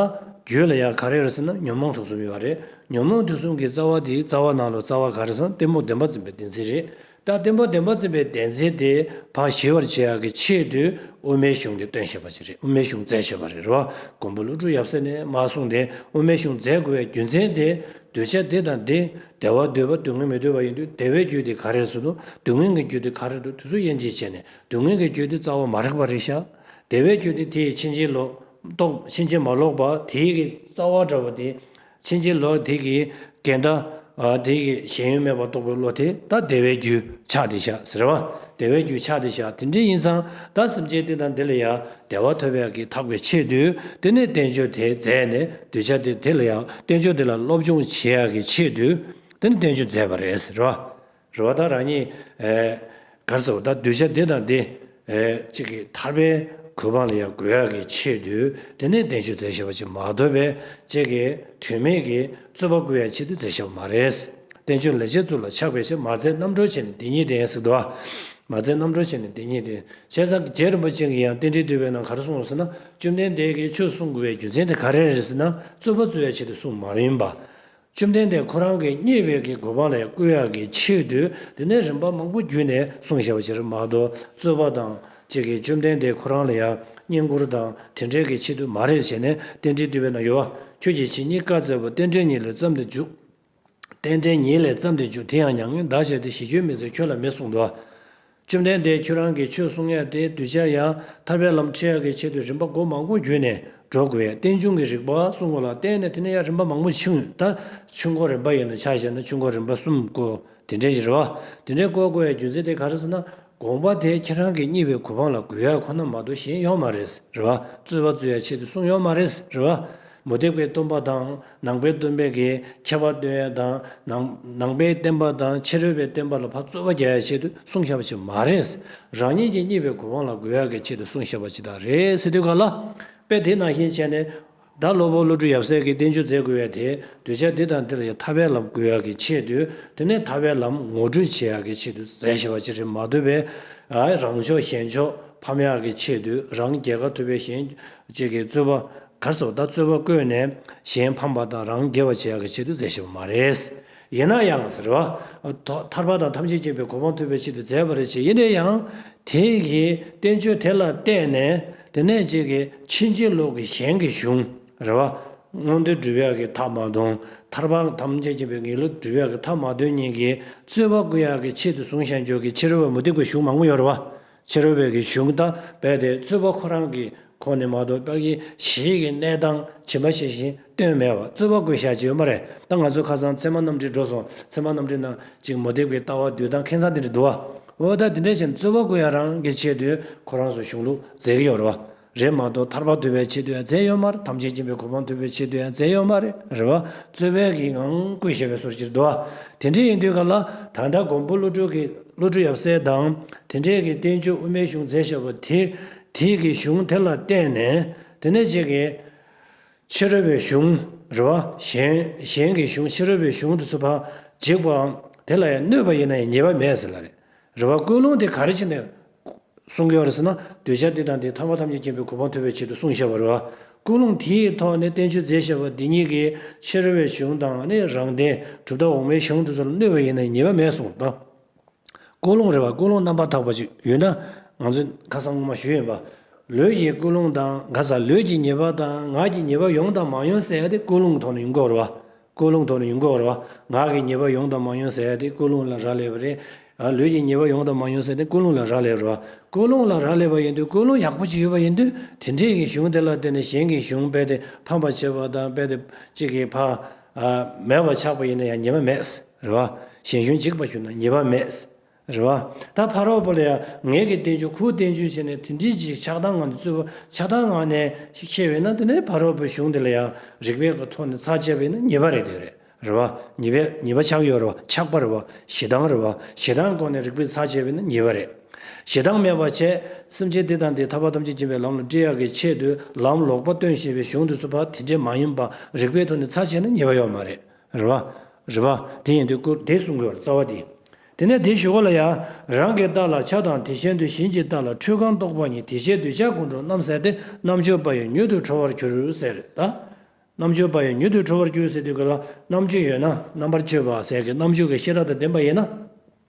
རྒྱུད་ལ་ཡང་ག་རེ་རེད་ཟེར་ན་ཉོན་མོངས་དུག་གསུམ་ཡོད་རེད་ཉོན་མོངས་དུག་གསུམ་གྱི་རྩ་བ་དེའི་རྩ་བ་ནང་ལ་རྩ་བ་ག་རེ་ཟང་གཏི་མུག་བདེན་པ་འཛིན་པའི་བདེན་འཛིན་རེད་རྟགས་བདེན་པ་བདེན་པ་འཛིན་པའི་བདེན་འཛིན་དེ་བག་ཞི་བར་བྱེད་ཡག་གི་ཆེད་དུ་དབུ་མའི་གཞུང་གི་སྟོན་ཞེས་པ་ཅིག་རེད་དབུ་མའི་གཞུང་བཙལ་ཞེས་པ་རེད་རེད་བ་མགོན་པོ་ཀླུ་སྒྲུབ་ཡབ་སྲས་ནས་མ་གསུངས་དེ་དབུ་མའི་གཞུང་བཙལ་དགོས་བའི་རྒྱུ་མཚན་དེ་གདུལ་བྱ་འདི་དང་འདི་བདེ་བ་འདུལ་བ་སྡུག་བསྔལ་མི་འདུལ་བ་ཡིན་དུས་བདེ་བའི་རྒྱུ་དེ་ག་རེ་སུ་འདུག་སྡུག་བསྔལ་གྱི་རྒྱུ་དེ་ག་རེ་འདུག་དེ་ཚོ་དབྱེ་འབྱེད་བྱས་ནས་སྡུག་བསྔལ་གྱི་རྒྱུ་དེ་རྩ་བ་མ་རེག་པ་རེད་ཤག་བདེ་བའི་རྒྱུ་དེ་དེ་ཡི་ཕྱིན་ཅི་ལོག་རྟོག་ཕྱིན་ཅི་མ་ལོག་པ་དེ་ཡི་རྩ་བ་འདྲ་བོ་དེ་ཕྱིན་ཅི་ལོག་དེ་གི་གན་ད་དེ་གི་ཞེན་ཡུལ་མེད་པར་རྟོགས་པའི་བློ་དེ་ད་དེ་བའི་རྒྱུ་ཆགས་དེ་བཞག་ཟེར་བ་དེ་བའི་རྒྱུ་ཆགས་དེ་བཞག་དེ་འདྲའི་ཡིན་ཙང་ད་སེམས་ཅན་འདི་དང་འདི་ལ་ཡང་བདེ་བ་ཐོབ་པའི་གི་ཐག་པའི་ཆེད་དུ་དེ་ནས་བསྟན་བཅོས་དེ་མཛད་ནས་གདུལ་བྱ་དེ་དེ་ལ་ཡང་བསྟན་བཅོས་དེ་ལ་སློབ་སྦྱོང་བྱེད་ཡག་གི་ཆེད་དུ་དེ་ནས་བསྟན་བཅོས་མཛད་པ་རེད་ཟེར་བ་རེ་བ་དང་རང་ཉིད། གར་སོང་ད་གདུལ་བྱ་འདི་དང་འདི། གཅིག་གིས་ཐར་པའི་གོ་འཕང་ལ་ཡང་འགོད་ཡག་གི་ཆེད་དུ་དེ་ནས་གདན་ཞུ་མཛད་ཞེས་པ་ཅིག་མ་འདོད་པས་གཅིག་གིས་དུས་མེད་ཀྱི་རྩོད་པ་བསྐུལ་ཡག་ཆེད་དུ་མཛད་ཞེས་པ་མ་རེད། བསྟན་བཅོས་ལས་འཆད་ཚུལ་ལ་ཆགས་པའི་ཕྱིར་མ་བཙལ་རྣམ་གྲོལ་ཆེ་ནི་འདི་ཉིད་དེ་སྲིད་དུ། མ་བཙལ་རྣམ་གྲོལ་ཆེ་ནི་འདི་ཉིད་དེ། བྱས་ཙང་རྗེ་རིན་པོ་ཆེ་གིས་ཡང་རྟེན་འབྲེལ་བསྡུས་པའི་ནང་གར་སོང་ཟེར་ན་བཅོམ་ལྡན་འདས་ཀྱིས་ཆོས་གསུང་དགོས་པའི་རྒྱུ་མཚན་དེ་ག་རེ་རེད་ཟེར་ན་རྩོད་པ་རྩོད་ཡག་ཆེད་དུ་གསུངས་མ་ཡིན་པ། བཅོམ་ལྡན་འདས་ཁོ་རང་གི་བརྙེས་པའི་གི་གོ་འཕང་ལས་བསྐུལ་བ་གི་ཕྱིར་དུ་དེ་ནས་རིམ་པ་མང་པོ་བརྒྱུད་ནས་གསུང་བྱ་བ་ཕྱིར་མ་གཏོགས་རྩོད་པ་དང་ཅིག་གིས་བཅོམ་ལྡན་འདས་ཁོ་རང་ལ་ཡང་བསྙེན་བཀུར་དང་དེ་འདྲའི་གི་ཆེད་དུ་མ་རེད་བྱས་ནས་རྟེན་འབྲེལ་བསྟུད་པས་ན་ཡོ་བ་ཁྱོད་ཀྱིས་ཇི་སྙེད་བཀའ་སྩལ་པོ་རྟེན་འབྲེལ་ཉིད་ལས་བརྩམས་ཏེ་འཇུག། རྟེན་འབྲེལ་ཉིད་ལས་བརྩམས་ཏེ་འཇུག་དེ་ཡང་མྱ་ངན་འདའ་བྱས་ཏེ་ཞི་ཁྱོད་མི་བཟད་ཁྱོད་ལ་མི་གསུང་དོ། བཅོམ་ལྡན་འདས་ཁྱོད་རང་གིས་ཆོས་གསུང་ངེས་ཏེ་གདུལ་བྱ་ཡང་ཐར་པའི་ལམ་ཁྲིད་ཡ་གི་ཆེད་དུ་རིམ་པ་སྒོ་མང་པོ་བརྒྱུད་ནས་འགྲོ་དགོས་ཡ་རྟེན་འབྱུང་གི་རིགས་པ་གསུང་ངོ་ལ་བརྟེན་ནས་དེ་ནས་ཡང་རིམ་པ་མང་པོ་ཕྱིན་ད་ཆུ་འགོ་རིམ་པ་ཡིན་ན་ཆ་ཤས་ན་ཆུ་འགོ་རིམ་པ་གསུམ་བསྐོ་དེ་འདྲའི་རེ་བ་དེ་འདྲའི་བསྐོ་དགོས་ཡ་རྒྱུ་མཚན་དེ་ག་རེ་ཟེར་ན་དགོངས་པ་དེ་ཁྱེད་རང་གི་གཉིས་པའི་གོ་འཕང་ལ་དགོས་ཡ་ཁོ་ན་མ་གཏོགས་གཞན་ཡོང་མ་རེད་རེ་བ་རྩོད་པ་རྩོད་ཡ་ཆེད་དུ་གསུང་ཡོང་མ་རེད་རེ་བ་མུ་སྟེགས་པའི་རྩོམ་པ་དང། ནང་པའི་སྟོན་པའི་གེགས་ཁྱད་པར་སྟོན་ཡ་དང། ནང་པའི་བསྟན་པ་དང་ཕྱི་རོལ་པའི་བསྟན་པ་ལ་ཕ་རྩོལ་བ་རྒྱག་ཡ་ཆེད་དུ་གསུང་བཤད་པ་ཅིག་མ་རེད། རང་ཉིད་ཀྱི་རྙེད་པའི་གོ་འཕང་ལ་འགོད་ཡ་གི་ཆེད་དུ་གསུང་བཤད་པ་ཅིག་དག་རེད་ཟེར་དུས་ག་ལ། དཔེ་དེ་ནང་བཞིན་བྱས་ནས། བདག་སློབ་བུ་བློ་གྲོས་ཡབ་སྲས་ཀྱི་བསྟན་བཅོས་མཛད་དགོས་བས་དེ་གདུལ་བྱ་འདི་དང་འདི་ལ་ཡང་ཐར་པའི་ལམ་དགོས་ཡ་གི་ཆེད་དུ་དེ་ནས་ཐར་པའི་ལམ་ངོ་སྤྲོད་བྱེད་ཡ་གི་ཆེད་དུ་མཛད་ཞེས་པ་ཅིག་རེད་མ་འདོད་པས། རང་ཕྱོགས་གཞན་ཕྱོགས་ཕམ་ཡ་གི་ཆེད་དུ་རང་རྒྱལ་ཁ་ཐུབ་པའི་གཞན་བྱེད་ཀྱི་རྩོད་པ་གར་སོགས་ལྟ་ཚོད་པ་བཀོད་ནས་གཞན་ཕམ་པ་དང་རང་དགེ་བ་བྱེད་ཡག་གི་ཆེད་དུ་མཛད་བཞིན་པ་མ་རེད། ཡིན་ན་ཡང་ཟེར་བ། ཐར་པ་དང་ཐམས་ཅད་མཁྱེན་པའི་གོ་འཕང་ཐོབ་པའི་ཆེད་དུ་མཛད་པ་རེད་ཅེས་ཡིན་ན་ཡང། དེ་ཡི་བསྟན་བཅོས་དེ་ལ་བལྟས་ནས་དེ་ནས་ཅིག་གིས་ཕྱིན་ཅི་ལོག་གི་གཞན་གྱི་གཞུང་རེད་བ། མངོན་འདོད་སྒྲུབ་ཡག་གི་ཐབས་མ་སྟོན། ཐར་པ་ཐམས་ཅད་མཁྱེན་པའི་དགེ་ལུགས་སྒྲུབ་ཡག་གི་ཐབས་མ་སྟོན་གཉིས་ཀྱིས་རྩོད་པ་བསྐུལ་ཡག་གི་ཆེད་དུ་བཟུང་ཞེན་འཇོག་གི་ཕྱི་རོལ་བ་མུ་སྟེགས་པའི་གཞུང་མང་པོ་ཡོད་རེད་བ། ཕྱི་རོལ་བའི་གི་གཞུང་དང་རྦད་དེ་རྩོད་པ་ཁོ་རང་གི་ཁོངས་ནས་མ་གཏོགས་དཔག་ཡས་གཞིས་ཀྱི་གནས་སྟངས་ཇི་མ་ཇི་བཞིན་སྟོན་མེད་བ་རྩོད་པ་དགོས་བཞག་ཅིག་ཡོད་མ་རེད་ད་ང་ཚོའི་ཁ་སང་ཚེ་མ་རྣམ་འདྲེ་འགྲོ་སོང་ཚེ་མ་རྣམ་འདྲེ་ནང་ཅིག་མོ་དེབ་ཀྱི་ལྟ་བ་བསྡུས་དང་ཁེངས་ས་དེ་འདྲ་འདུག་བ་འོ་ད་དེ་འདྲ་བྱས་ནས་རྩོད་པ་དགོས་ཡག་རང་གི་ཆེད་དུ་ཁོ་རང་སོ་གཞུང་ལུགས་མཛད་ཀྱི་ཡོད་རེད་བ། རེད་མ་གཏོགས་ཐར་པ་འདོད་པའི་ཆེད་དུ་ཡང་རྩལ་ཡོད་མ་རེད་ཐམས་ཅད་མཁྱེན་པའི་གོ་འཕང་ཐོབ་པའི་ཆེད་དུ་ཡང་རྩལ་ཡོད་མ་རེད། རེད་བ། རྩོལ་བས་གིས་ངང་བསྐུལ་བྱས་པའི་ཟུར་གྱིས་བསྡུ་བ། དེ་འདྲས་ཡིན་དུས་ག་ལ། ད་ལྟ་མགོན་པོ་བློ་གྲོས་ཀྱིས་བློ་གྲོས་ཡབ་སྲས་དང། དེ་འདྲས་ཀྱིས་བསྟན་བཅོས་དབུ་མའི་གཞུང་མཛད་བྱ་བ་དེ། དེས་ཀྱི་གཞུང་དེ་ལ་བརྟེན་ནས། དེ་ནས་ཅིག་གིས། ཕྱི་རོལ་པའི་གཞུང། རེད་བ། གཞན། གཞན་གྱི་གཞུང་ཕྱི་རོལ་པའི་གཞུང་དུ་ཚུད་པ། འཇིག་པའམ། དེ་ལ་ཡང་གནོད་པ་ཡིན་ན་ཡང་ཉེས་པ་མེད་ཟེར་ལ་རེད། རེ་བ་ཀུན་སློང་དེ་ག་རེ་བྱས་ནས་སྲུང་གི་ཡོད་རེད་ཟེར་ན་གདུལ་བྱ་འདི་དང་འདི་ཐམས་པ་ཐམས་ཅད་མཁྱེན་པའི་གོ་འཕང་ཐོབ་པའི་ཆེད་དུ་སྲུང་ཞེས་པ་རེད། ཀུན་སློང་དེའི་ཐོག་ནས་བསྟན་བཅོས་མཛད་ཞེས་པ་འདི་གཉིས་ཀྱི་ཕྱིར་བའི་གཞུང་དང་ནི་རང་བདེན་གྲུབ་མཐའ་འོག་མའི་གཞུང་དེ་ཚོར་གནོད་པ་ཡིན་ན་ཉེས་པ་མེད་གསུངས་དང། ཀུན་སློང་རེ་བ་ཀུན་སློང་རྣམ་པར་དག་པ་ཅིག་ཡོད་ན་ང་ཚོས་ཁ་སང་སྔོན་མ་ཞུས་ཡོད་པ། ལུས་ཀྱི་ཀུན་སློང་དང་ག་ས་ལུས་ཀྱི་ཉེས་པ་དང་ངག་གི་ཉེས་པ་ཡོང་དང་མ་ཡོང་གསལ་ཏེ་ཀུན་སློང་གི་ཐོག་ནས་ཡོང་གི་ཡོད་རེད་བ། ཀུན་སློང་དོར་ནས་འགོག་རོགས། ངག་གི་ཉེས་པ་ཡོང་དང་མ་ཡོང་ཟེར་ཡ་དེ་ཀུན་སློང་ལ་རག་ལས་པ་རེད། ལུས་ཀྱི་ཉེས་པ་ཡོང་དང་མ་ཡོང་ཟེར་ནས་ཀུན་སློང་ལ་རག་ལས་རོགས། ཀུན་སློང་ལ་རག་ལས་པ་ཡིན་དུས་ཀུན་སློང་ཡག་པོ་ཅིག་ཡོད་པ་ཡིན་དུས་དེ་འདྲས་ཀྱི་གཞུང་དེ་ལ་བརྟེན་ནས་གཞན་གྱི་གཞུང་དཔེ་དེ་ཕམ་པར་བྱེད་པ་དང་དཔེ་དེ་གཅིག་གིས་ཕ། མེད་པར་ཆགས་པ་ཡིན་ན་ཡང་ཉེས་པ་མེད། རེད་བ། གཞན་གཞུང་གཅིག་པར་ཞུ་ན་ཉེས་པ་མེད། རེད་བ། ད་ཕ་རོག་པོ་ལ་ཡང་ངེད་ཀྱི་བསྟན་བཅོས་ཁུག་བསྟན་བཅོས་བྱས་ནས་དེ་འབྲེལ་གྱི་ཆགས་སྡང་ངང་དུ་རྩོད་པ་ཆགས་སྡང་ངང་ནས་ཤིག་ཤེས་བས་ན་དེ་ནས་ཕ་རོག་པོའི་གཞུང་འདི་ལ་ཡང་རིགས་པས་གོ་ཐོག་ནས་ཚགས་བཅད་བས་ན་ཉེས་པ་རེད་དེ་རེད་རེད་བ། ཉེས་པས་ཉེས་པ་ཆགས་ཡོད་རེད་བ་ཆགས་པ་རེད་བ་ཞེ་སྡང་རེད་བ་ཞེ་སྡང་སྐོར་ནས་རིགས་པས་ཚགས་བཅད་བས་ན་ཉེས་པ་རེད། ཞེ་སྡང་མེད་པར་བྱས། སེམས་ཅན་འདི་དང་འདི་ཐར་པ་ཐམས་ཅད་མཁྱེན་པའི་ལམ་ལ་བཀྲི་ཡག་གི་ཆེད་དུ་ལམ་ལོག་པ་སྟོན་ཞེས་པའི་གཞུང་འདི་སུ་ཕ་དེ་འདྲས་མ་ཡིན་པ་རིགས་པས་ཐོག་ནས་ཚགས་བྱས་ན་ཉེས་པ་ཡོད་མ་རེད་རེ་བ། རེ་བ། དེ་ཡིན་དུས་སྐུ་བདེ་གསུང་དགོས་པར་རྩ་བ་འདི། དེ་ནས་དེའི་ཞུ་བ་ལ་ཡང། རང་གི་རྟགས་ལ་ཆ་དང་དེ་ཤེས་འདོད་བཞིན་གྱི་རྟགས་ལ་འཁྲུལ་གང་རྟོགས་པ་ཉིད་དེ་ཤེས་འདོད་ཆ་ཀུན་འགྲོ་རྣམ་གསལ་ཏེ་རྣམ་གཅོད་པ་ཡི་མྱུ་གུ་འཕྲོ་བར་གྱུར་ཟེར་ད། རྣམ་གཅོད་པ་ཡི་མྱུ་གུ་འཕྲོ་བར་གྱུར་ཟེར་དུས་ཀུན་ལ་རྣམ་གཅོད་ཡོད་ན་རྣམ་པར་གཅོད་པ་ཟེར་གྱི་རྣམ་གཅོད་ཀྱི་ཤེས་རབ་དང་ལྡན་པ་ཡིན་ན།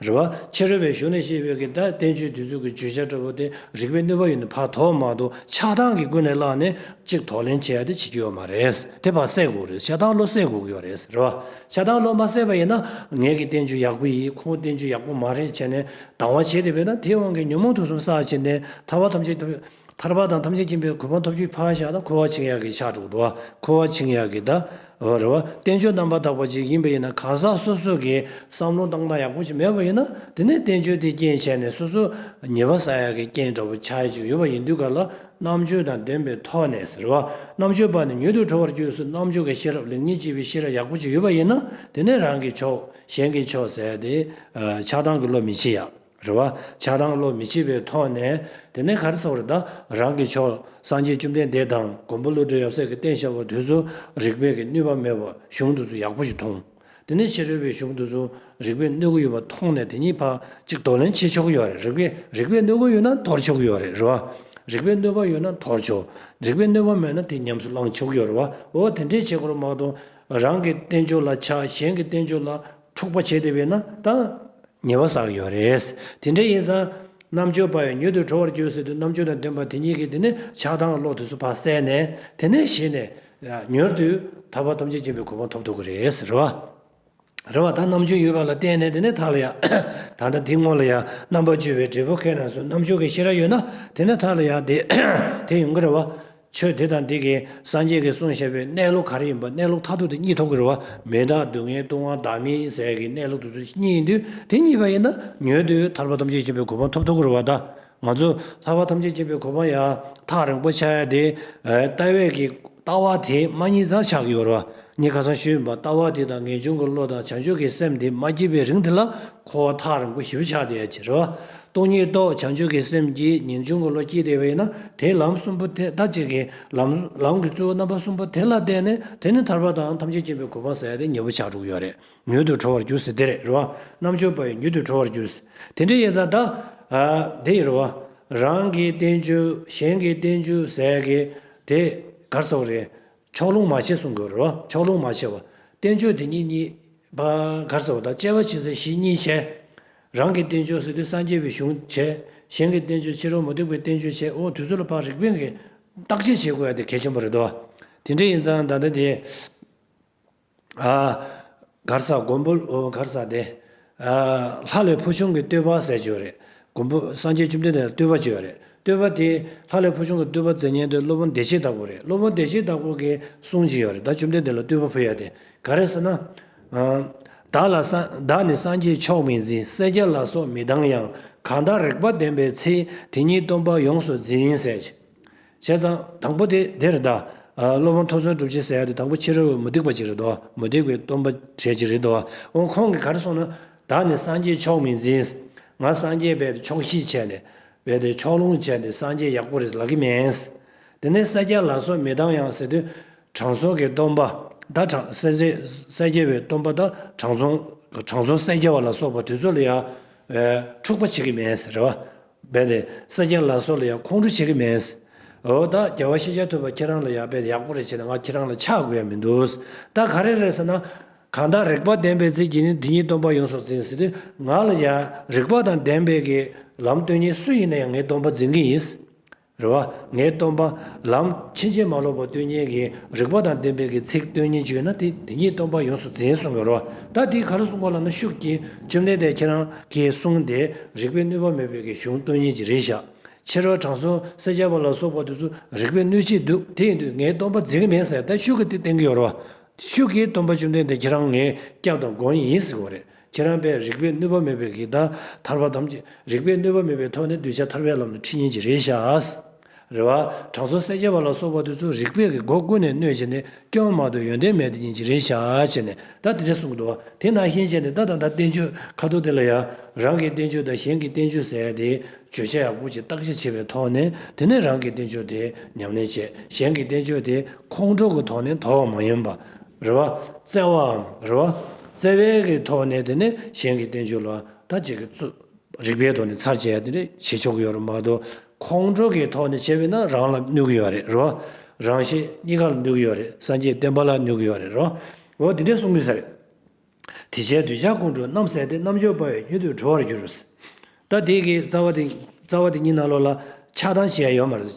རེད་བ། ཕྱི་རོལ་པའི་གཞུང་ནས་བཤད་པའི་གི་ད་བསྟན་བཅོས་དུས་ཚོད་ཀྱི་བརྗོད་བྱ་འདྲ་པོ་དེ་རིག་པའི་གནོད་པ་ཡོད་ནི་བར་དོ་མ་དོ་ཆགས་སྡང་གིས་ཀུན་ནས་བསླངས་ནས་ཅིག་དོགས་ལེན་བྱས་ཏེ་བྱེད་ཀྱི་ཡོད་མ་རེད། དེ་བར་སད་དགོས་རེད་ཆགས་སྡང་བློ་སད་དགོས་ཀྱི་ཡོད་རེད། རེད་བ། ཆགས་སྡང་བློ་མ་སད་པ་ཡིན་ན་ངེད་ཀྱི་བསྟན་བཅོས་ཡག་པོ་ཡིན་ཁོང་བསྟན་བཅོས་ཡག་པོ་མ་རེད་བྱས་ནས་སྡང་བ་བྱས་ཏེ་བས་ན་དེའི་དབང་གིས་ཉོན་མོངས་དུག་གསུམ་ཟག་བྱེད་འདས་ཐར་བ་ཐམས་ཅད་ཐར་པ་དང་ཐམས་ཅད་མཁྱེན་པའི་གོ་འཕང་ཐོབ་རྒྱུའི་ཕ་ཤ་ན་འཁོར་བ་འཆིང་ཡ་གི་ཕྱག་དྲུག་དུ་བ་འཁོར་བ་འཆིང་ཡ་གི་ད་བར་བ་བསྟན་བཅོས་རྣམ་པར་དག་པ་ཅིག་ཡིན་པ་ཡིན་ན་གང་ཟག་སོ་སོ་གི་བསམ་བློ་བཏང་སྟངས་ཡག་པོ་ཅིག་མེད་པ་ཡིན་ན་དེ་ནས་བསྟན་བཅོས་དེ་རྐྱེན་བྱས་ནས་སོ་སོ་ཉེས་པ་བསལ་ཡ་གི་རྐྱེན་འདྲ་པོ་ཆགས་ཀྱི་ཡོད་པ་ཡིན་དུས་ག་ལ་རྣམ་དཔྱོད་དང་ལྡན་པའི་ཐོག་ནས་ཟེར་བ་རྣམ་དཔྱོད་པ་ནི་མྱུར་དུ་གྲོལ་བར་འགྱུར་སོ་རྣམ་དཔྱོད་ཀྱི་ཤེས་རབ་ལེགས་ཉེས་དཔྱད་པའི་ཤེས་རབ་ཡག་པོ་ཅིག་ཡོད་པ་ཡིན་ན་དེ་ནས་རང་གི་ཕྱོགས་གཞན་གྱི་ཕྱོགས་ཟད་དེ་ཆགས་སྡང་གི་བློ་མི་འཆི་ཡ། རེ་བ། ཆགས་སྡང་བློ་མི་ཕྱེད་པའི་ཐོག་ནས། དེ་ནས་གར་སོང་རེ་ད་རང་གི་ཕྱོགས། སངས་རྒྱས་བཅོམ་ལྡན་འདས་དང་མགོན་པོ་བློ་གྲོས་ཡབ་སྲས་ཀྱི་བསྟན་བཤད་པ་དུས་སུ་རིག་པས་ཀྱི་ནུས་པ་མེད་པ་གཞུང་དུས་སུ་ཡག་པོ་ཞིག་མཐོང། དེ་ནས་ཕྱི་རོལ་པའི་གཞུང་དུས་སུ་རིག་པས་གནོད་གི་ཡོད་པ་མཐོང་ནས་དེ་གཉིས་བར་གཅིག་དོ་ལན་བྱེད་ཆོག་གི་ཡོད་རེད་རིག་པས་རིག་པས་གནོད་གི་ཡོད་ན་དོར་ཆོག་གི་ཡོད་རེད་རེ་བ། རིག་པས་གནོད་པ་ཡོད་ན་དོར་ཆོག་རིག་པས་གནོད་པ་མེད་ན་དེ་ཉམས་སུ་བླང་ཆོག་གི་ཡོད་རེ་བ་འོ་དེ་འདྲའི་བྱེད་སྒོ་ལ་མ་གཏོགས་རང་གི་བསྟན་བཅོས་ལ་ཆགས་གཞན་གྱི་བསྟན་བཅོས་ལ། འཁྲུག་པ་བྱས་ཏེ་བས་ན་དང། ཉེས་པ་བསགས་ཡོད་རེད། དེ་འདྲ་ཡིན་ཙང། རྣམ་དཔྱོད་པ་ཡང་མྱུར་དུ་གྲོལ་བར་འགྱུར་ཟེར་དུས་རྣམ་དཔྱོད་དང་ལྡན་པ་དེ་གཉིས་ཀྱིས་དེ་ནི་ཆགས་སྡང་ཀློག་དུས་སུ་བག་བསལ་ནས་དེ་ནས་ཞེས་ནས། མྱུར་དུ། ཐར་པ་ཐམས་ཅད་མཁྱེན་པའི་གོ་འཕང་ཐོབ་ཐུབ་ཀྱི་རེད། རེ་བ། རེ་བ་དང་རྣམ་དཔྱོད་ཡོད་པ་ལ་བརྟེན་ནས་དེ་ནས་ཐར་ལ་ཡག། ད་ལྟ་འདི་སྔོན་ལ་ཡང་རྣམ་པར་དཔྱོད་པའི་འབྲས་བུ་ཁས་ནང་སོ་རྣམ་དཔྱོད་ཀྱི་ཤེས་རབ་ཡོད་ན་དེ་ནས་ཐར་ལ་ཡག། དེ་ཡོང་གི་རེ་བ། ཆོས་དེ་དང་དེ་གའི་སངས་རྒྱས་ཀྱི་གསུང་བཤད་པའི་གནས་ལུགས་ག་རེ་ཡིན་པ་གནས་ལུགས་མཐའ་ཐུག་དེ་གཉིས་ཐོབ་ཀྱི་རེད་བ་མི་བདག་སྡུག་བསྔལ་ལྟུང་བ་བདག་མི་ཟད་ཀྱི་གནས་ལུགས་དེ་ཚོ་གཉིས་ཡིན་དུས་དེ་གཉིས་པ་ཡིན་ན་ཉོན་དུས་ཐར་པ་ཐམས་ཅད་མཁྱེན་པའི་གོ་འཕང་ཐོབ་ཐུབ་ཀྱི་རེད་བ་ད་ང་ཚོས་ཐར་པ་ཐམས་ཅད་མཁྱེན་པའི་གོ་འཕང་ཡང་ཐག་རིང་པོ་ཆགས་ཡ་དེ། ལྟ་བས་ཀྱི་ལྟ་བ་དེ་མ་གཉིས་ཙམ་ཆགས་ཀྱི་ཡོད་རེད་བ། ངས་ཁ་སང་ཞུས་ཡོད་པ་ལྟ་བ་དེ་དང་ངེས་འབྱུང་གི་བློ་དང་བྱང་ཆུབ་ཀྱི་སེམས་དེ་མ་སྐྱེས་པའི་རིང་དེ་ལ་འཁོར་བ་ཐག་རིང་པོ་ཞིབ་ཆགས་དེ་ཡལ་ཕྱིར། སྟོང་ཉིད་རྟོགས་བྱང་ཆུབ་ཀྱི་སེམས་ཀྱིས་ངེས་འབྱུང་གི་བློ་སྐྱེས་དེ་བས་ན་དེས་ལམ་གསུམ་པོ་དེ་ལྟ་ཅིག་གིས་ལམ་ལམ་གྱི་གཙོ་བོ་རྣམ་པ་གསུམ་པོ་དེ་ལ་བརྟེན་ནས་དེ་ནི་ཐར་པ་དང་ཐམས་ཅད་མཁྱེན་པའི་གོ་འཕང་ཟད་དེ་ཉེ་བོ་ཆགས་དྲུག་ཡོད་རེ་མྱུར་དུ་གྲོལ་བར་འགྱུར་ཟེར་དེ་རེད་རེ་བ། རྣམ་གཅོད་པ་ཡི་མྱུར་དུ་གྲོལ་བར་འགྱུར། དེ་འདྲའི་ཡེ་ཙཱ་དག། དེ་ཡི་རེ་བ། རང་གི་བསྟན་བཅོས་གཞན་གྱི་བསྟན་བཅོས་ཟད་ཀྱི་དེ་གར་སོགས་རེད། ཕྱོགས་ལྷུང་མ་བྱེད་གསུང་དགོས་རོ། ཕྱོགས་ལྷུང་མ་བྱེད་བ། བསྟན་བཅོས་དེ་ཉིད་གཉིས། བགར་ཟེར་བ་དང་བཅས་པ་ཕྱི་ཟེར་བཞི་གཉིས་བྱས། རང་གི་བསྟན་བཅོས་སྲིད་དུ་སངས་རྒྱས་པའི་གཞུང་བྱས། གཞན་གྱི་བསྟན་བཅོས་ཕྱི་རོལ་མུ་སྟེགས་པའི་བསྟན་བཅོས་བྱས་འོ་དུས་ཚོད་ལ་བག་རིག་པས་འགལ། བརྟག་དཔྱད་བྱེད་དགོས་ཡ་དེ་གལ་ཆེན་པོ་རེད་དོ། དེ་འདྲ་ཡིན་ཙང་ད་ལྟ་དེ། གར་ས་མགོན་པོ་གར་ས་དེ། ལྷ་ལས་ཕོ་ཆུང་གི་བསྟོད་པ་ཟེར་བྱོས་རེད། མགོན་པོ་སངས་རྒྱས་བཅོམ་ལྡན་འདས་ལ་བསྟོད་པ་བྱོས་རེད། བསྟོད་པ་དེ་ལྷ་ལས་ཕོ་ཆུང་གི་བསྟོད་པ་མཛད་ཉན་དེ་སློབ་དཔོན་བདེ་བྱེད་བདག་པོ་རེད། སློབ་དཔོན་བདེ་བྱེད་བདག་པོ་གིས་གསུངས་ཀྱི་ཡོད་རེད་ད་བཅོམ་ལྡན་འདས་ལ་བསྟོད་པ་ཕུལ་ཡ་དེ་ག་རེད་ཟེར་ན། བདག་ལ་བདག་ནི་སངས་རྒྱས་མཆོག་མི་འཛིན་སེར་སྐྱ་ལ་སོགས་མི་སྡང་ཡང་གང་དག་རེག་པ་ལྡན་པའི་ཚེ་དེ་ཉིད་སྟོན་པ་ཡོངས་སུ་འཛིན་ཟེར་བྱས། བྱས་ཙང་དང་པོ་དེ་དེ་རེད་ད། སློབ་དཔོན་ཐོ་བཟོའི་སྒྲུབ་བྱེད་ཟེར་ཡ་དེ་དང་པོ་ཕྱི་རོལ་བའི་མུ་སྟེགས་པ་ཅིག་རེད་དོ། མུ་སྟེགས་པའི་སྟོན་པ་གྲས་ཅིག་རེད་དོ། འོ་ཁོང་གིས་ག་རེ་གསུངས་ན། བདག་ནི་སངས་རྒྱས་ཆོག་མིན་འཛིན། ང་སངས་རྒྱས་བས་ཏེ་ཆོག་ཤེས་བྱས་ནས། བས་ཏེ་ཕྱོགས་ལྷུང་བྱས་ནས་སངས་རྒྱས་ཡག་པོ་རེད་ལབ་ཀྱི་མིན། དེ་ནས་ས་སྐྱ་ལ་སོགས་མི་དང་ཡང་ཟེར་དུས། དྲང་སྲོང་གི་སྟོན་པ་ད་དྲང་སེ་ཟེར། ས་སྐྱ་བའི་སྟོན་པ་ད་དྲང་སྲོང། དྲང་སྲོང་ས་སྐྱ་བ་ལ་སོགས་པ་དེ་ཚོ་ལ་ཡང། འཁྲུག་པ་བྱེད་ཀྱི་མིན་ཟེར། རྦད་དེ་ས་སྐྱའི་ལག་སོགས་ལ་ཡང་ཁོང་ཁྲོ་བྱེད་ཀྱི་མེད། འོ་ད་རྒྱལ་བ་ཤེས་བྱ་ཐུབ་པ་ཁྱེད་རང་ལ་ཡག་རྦད་དེ་ཡག་པོ་རེ་བྱས་ན་ང་ཁྱེད་རང་ལ་ཆགས་དགོས་ཡ་མི་འདུག་ད་ག་རེ་རེད་ཟེར་ན། གང་དག་རེག་པ་ལྡན་པའི་རྩལ་གྱིས་ནི་འདི་ཉིད་སྟོན་པ་ཡོངས་སུ་འཛིན་ཟེར་དུས་ང་ལ་ཡང་རེག་པ་དང་ལྡན་པའི་གི་ལམ་སྟོན་མཁན་སུ་ཡིན་ན་ཡང་ངས་སྟོན་པ་འཛིན་གྱི་ཡིན། རེ་བ། ངས་སྟོན་པ། ལམ། ཕྱིན་ཆད་མ་ལོག་པར་སྟོན་གྱིན་གྱི་རིག་པ་དང་ལྡན་པའི་གྱི་ཚིག་སྟོན་གྱིན་བརྗོད་ན་དེ་དེ་ཉིད་སྟོན་པ་ཡོངས་སུ་འཛིན་གསུང་གི་རོ། ད་དེའི་གར་གསུང་བ་ལ་ན་ཤུགས་ཀྱིས་བཅོམ་ལྡན་འདས་ཁྱེད་རང་གིས་གསུང་དེ་རིག་པའི་གནོད་པ་མེད་པའི་གྱི་གཞུང་སྟོན་གྱིན་གྱི་རེད་བཞག། ཕྱི་རོལ་དྲང་སྲོང་སེར་སྐྱ་པ་ལ་སོགས་པ་དེ་ཚོ་རིག་པའི་གནོད་བྱེད་འདུག་དེ་ཡིན་དུས་ངས་སྟོན་པ་འཛིན་གྱི་མེད་ཟེར་ད་ཤུགས་ཀྱིས་དེ་བསྟན་གྱི་ཡོད་རེད་བ། ཤུགས་ཀྱིས་སྟོན་པ་བཅོམ་ལྡན་འདས་ཁྱེད་རང་ངའི་སྐྱབས་དང་མགོན་ཡིན་ཟེར་གི་རེད། ཁྱེད་རང་པས་རིགས་པས་གནོད་པ་མེད་པའི་གེགས་དང་ཐར་པ་དམ་བཅས་རིགས་པས་གནོད་པ་མེད་པའི་ཐོག་ནས་གདུལ་བྱ་ཐར་པའི་ལམ་ནི་ཁྲིད་ཉན་གྱི་རེད་ཤཱས། རེ་བ། དྲང་སྲོང་སེར་སྐྱ་པ་ལ་སོགས་པ་དེ་ཚོ་རིགས་པས་གི་སྒོ་ཀུན་ནས་གནོད་བྱས་ནས་སྐྱོན་མ་དོ་ཡོན་ཏན་མེད་དུ་ཉན་གྱི་རེད་ཤཱས་བྱས་ནས་ད་དེ་འདྲ་གསུང་གི་འདུག་བ་དེ་ནང་བཞིན་བྱས་ནས་ད་ད་ད་བསྟན་བཅོས་ཁ་ཐུག་དེ་ལ་ཡང་རང་གི་བསྟན་བཅོས་དང་གཞན་གྱི་བསྟན་བཅོས་ཟེར་ཏེ་བརྗོད་བྱ་ཡག་པོ་ཅིག་བརྟག་དཔྱད་བྱས་པའི་ཐོག་ནས་དེ་ནས་རང་གི་བསྟན་བཅོས་དེ་ཉམས་ལེན་བྱས་གཞན་གྱི་བསྟན་བཅོས་དེ་ཁོང་ཁྲོ་གི་ཐོག་ནས་དོར་བ་མ་ཡིན་པ། རེ་བ། བཙལ་བའམ་རེ་བ། བརྩེ་བའི་གི་ཐོག་ནས་དེ་ནི་གཞན་གྱི་བསྟན་བཅོས་ལ་ད་ཅི་གི་ཚུ་རིག་པའི་ཐོག་ནས་ཚར་བཅད་དེ་ནི་བྱེད་ཆོག་གི་ཡོད་རེད་མ་གཏོགས་ཁོང་ཁྲོ་གི་ཐོག་ནས་བྱས་པས་ན་རང་ལ་གནོད་གི་ཡོད་རེད་རོ། རང་གཞན་གཉིས་ཀ་ལ་གནོད་གི་ཡོད་རེད་སངས་རྒྱས་བསྟན་པ་ལ་གནོད་གི་ཡོད་རེད་རོ། འོ་དེ་འདྲས་གསུང་མི་ས་རེད། དེ་བྱས་གདུལ་བྱ་ཀུན་གྲོལ་རྣམ་ཟད་དེ་རྣམ་འབྱོར་དཔའ་བའི་རྒྱུན་དུ་གྲོལ་བར་འགྱུར། ད་དེ་གི་རྩ་བ་དེ་རྩ་བ་དེ་གཉིས་ན་ལོ་ལ་ཆགས་སྡང་བྱས་ཡོད་མ་རེད།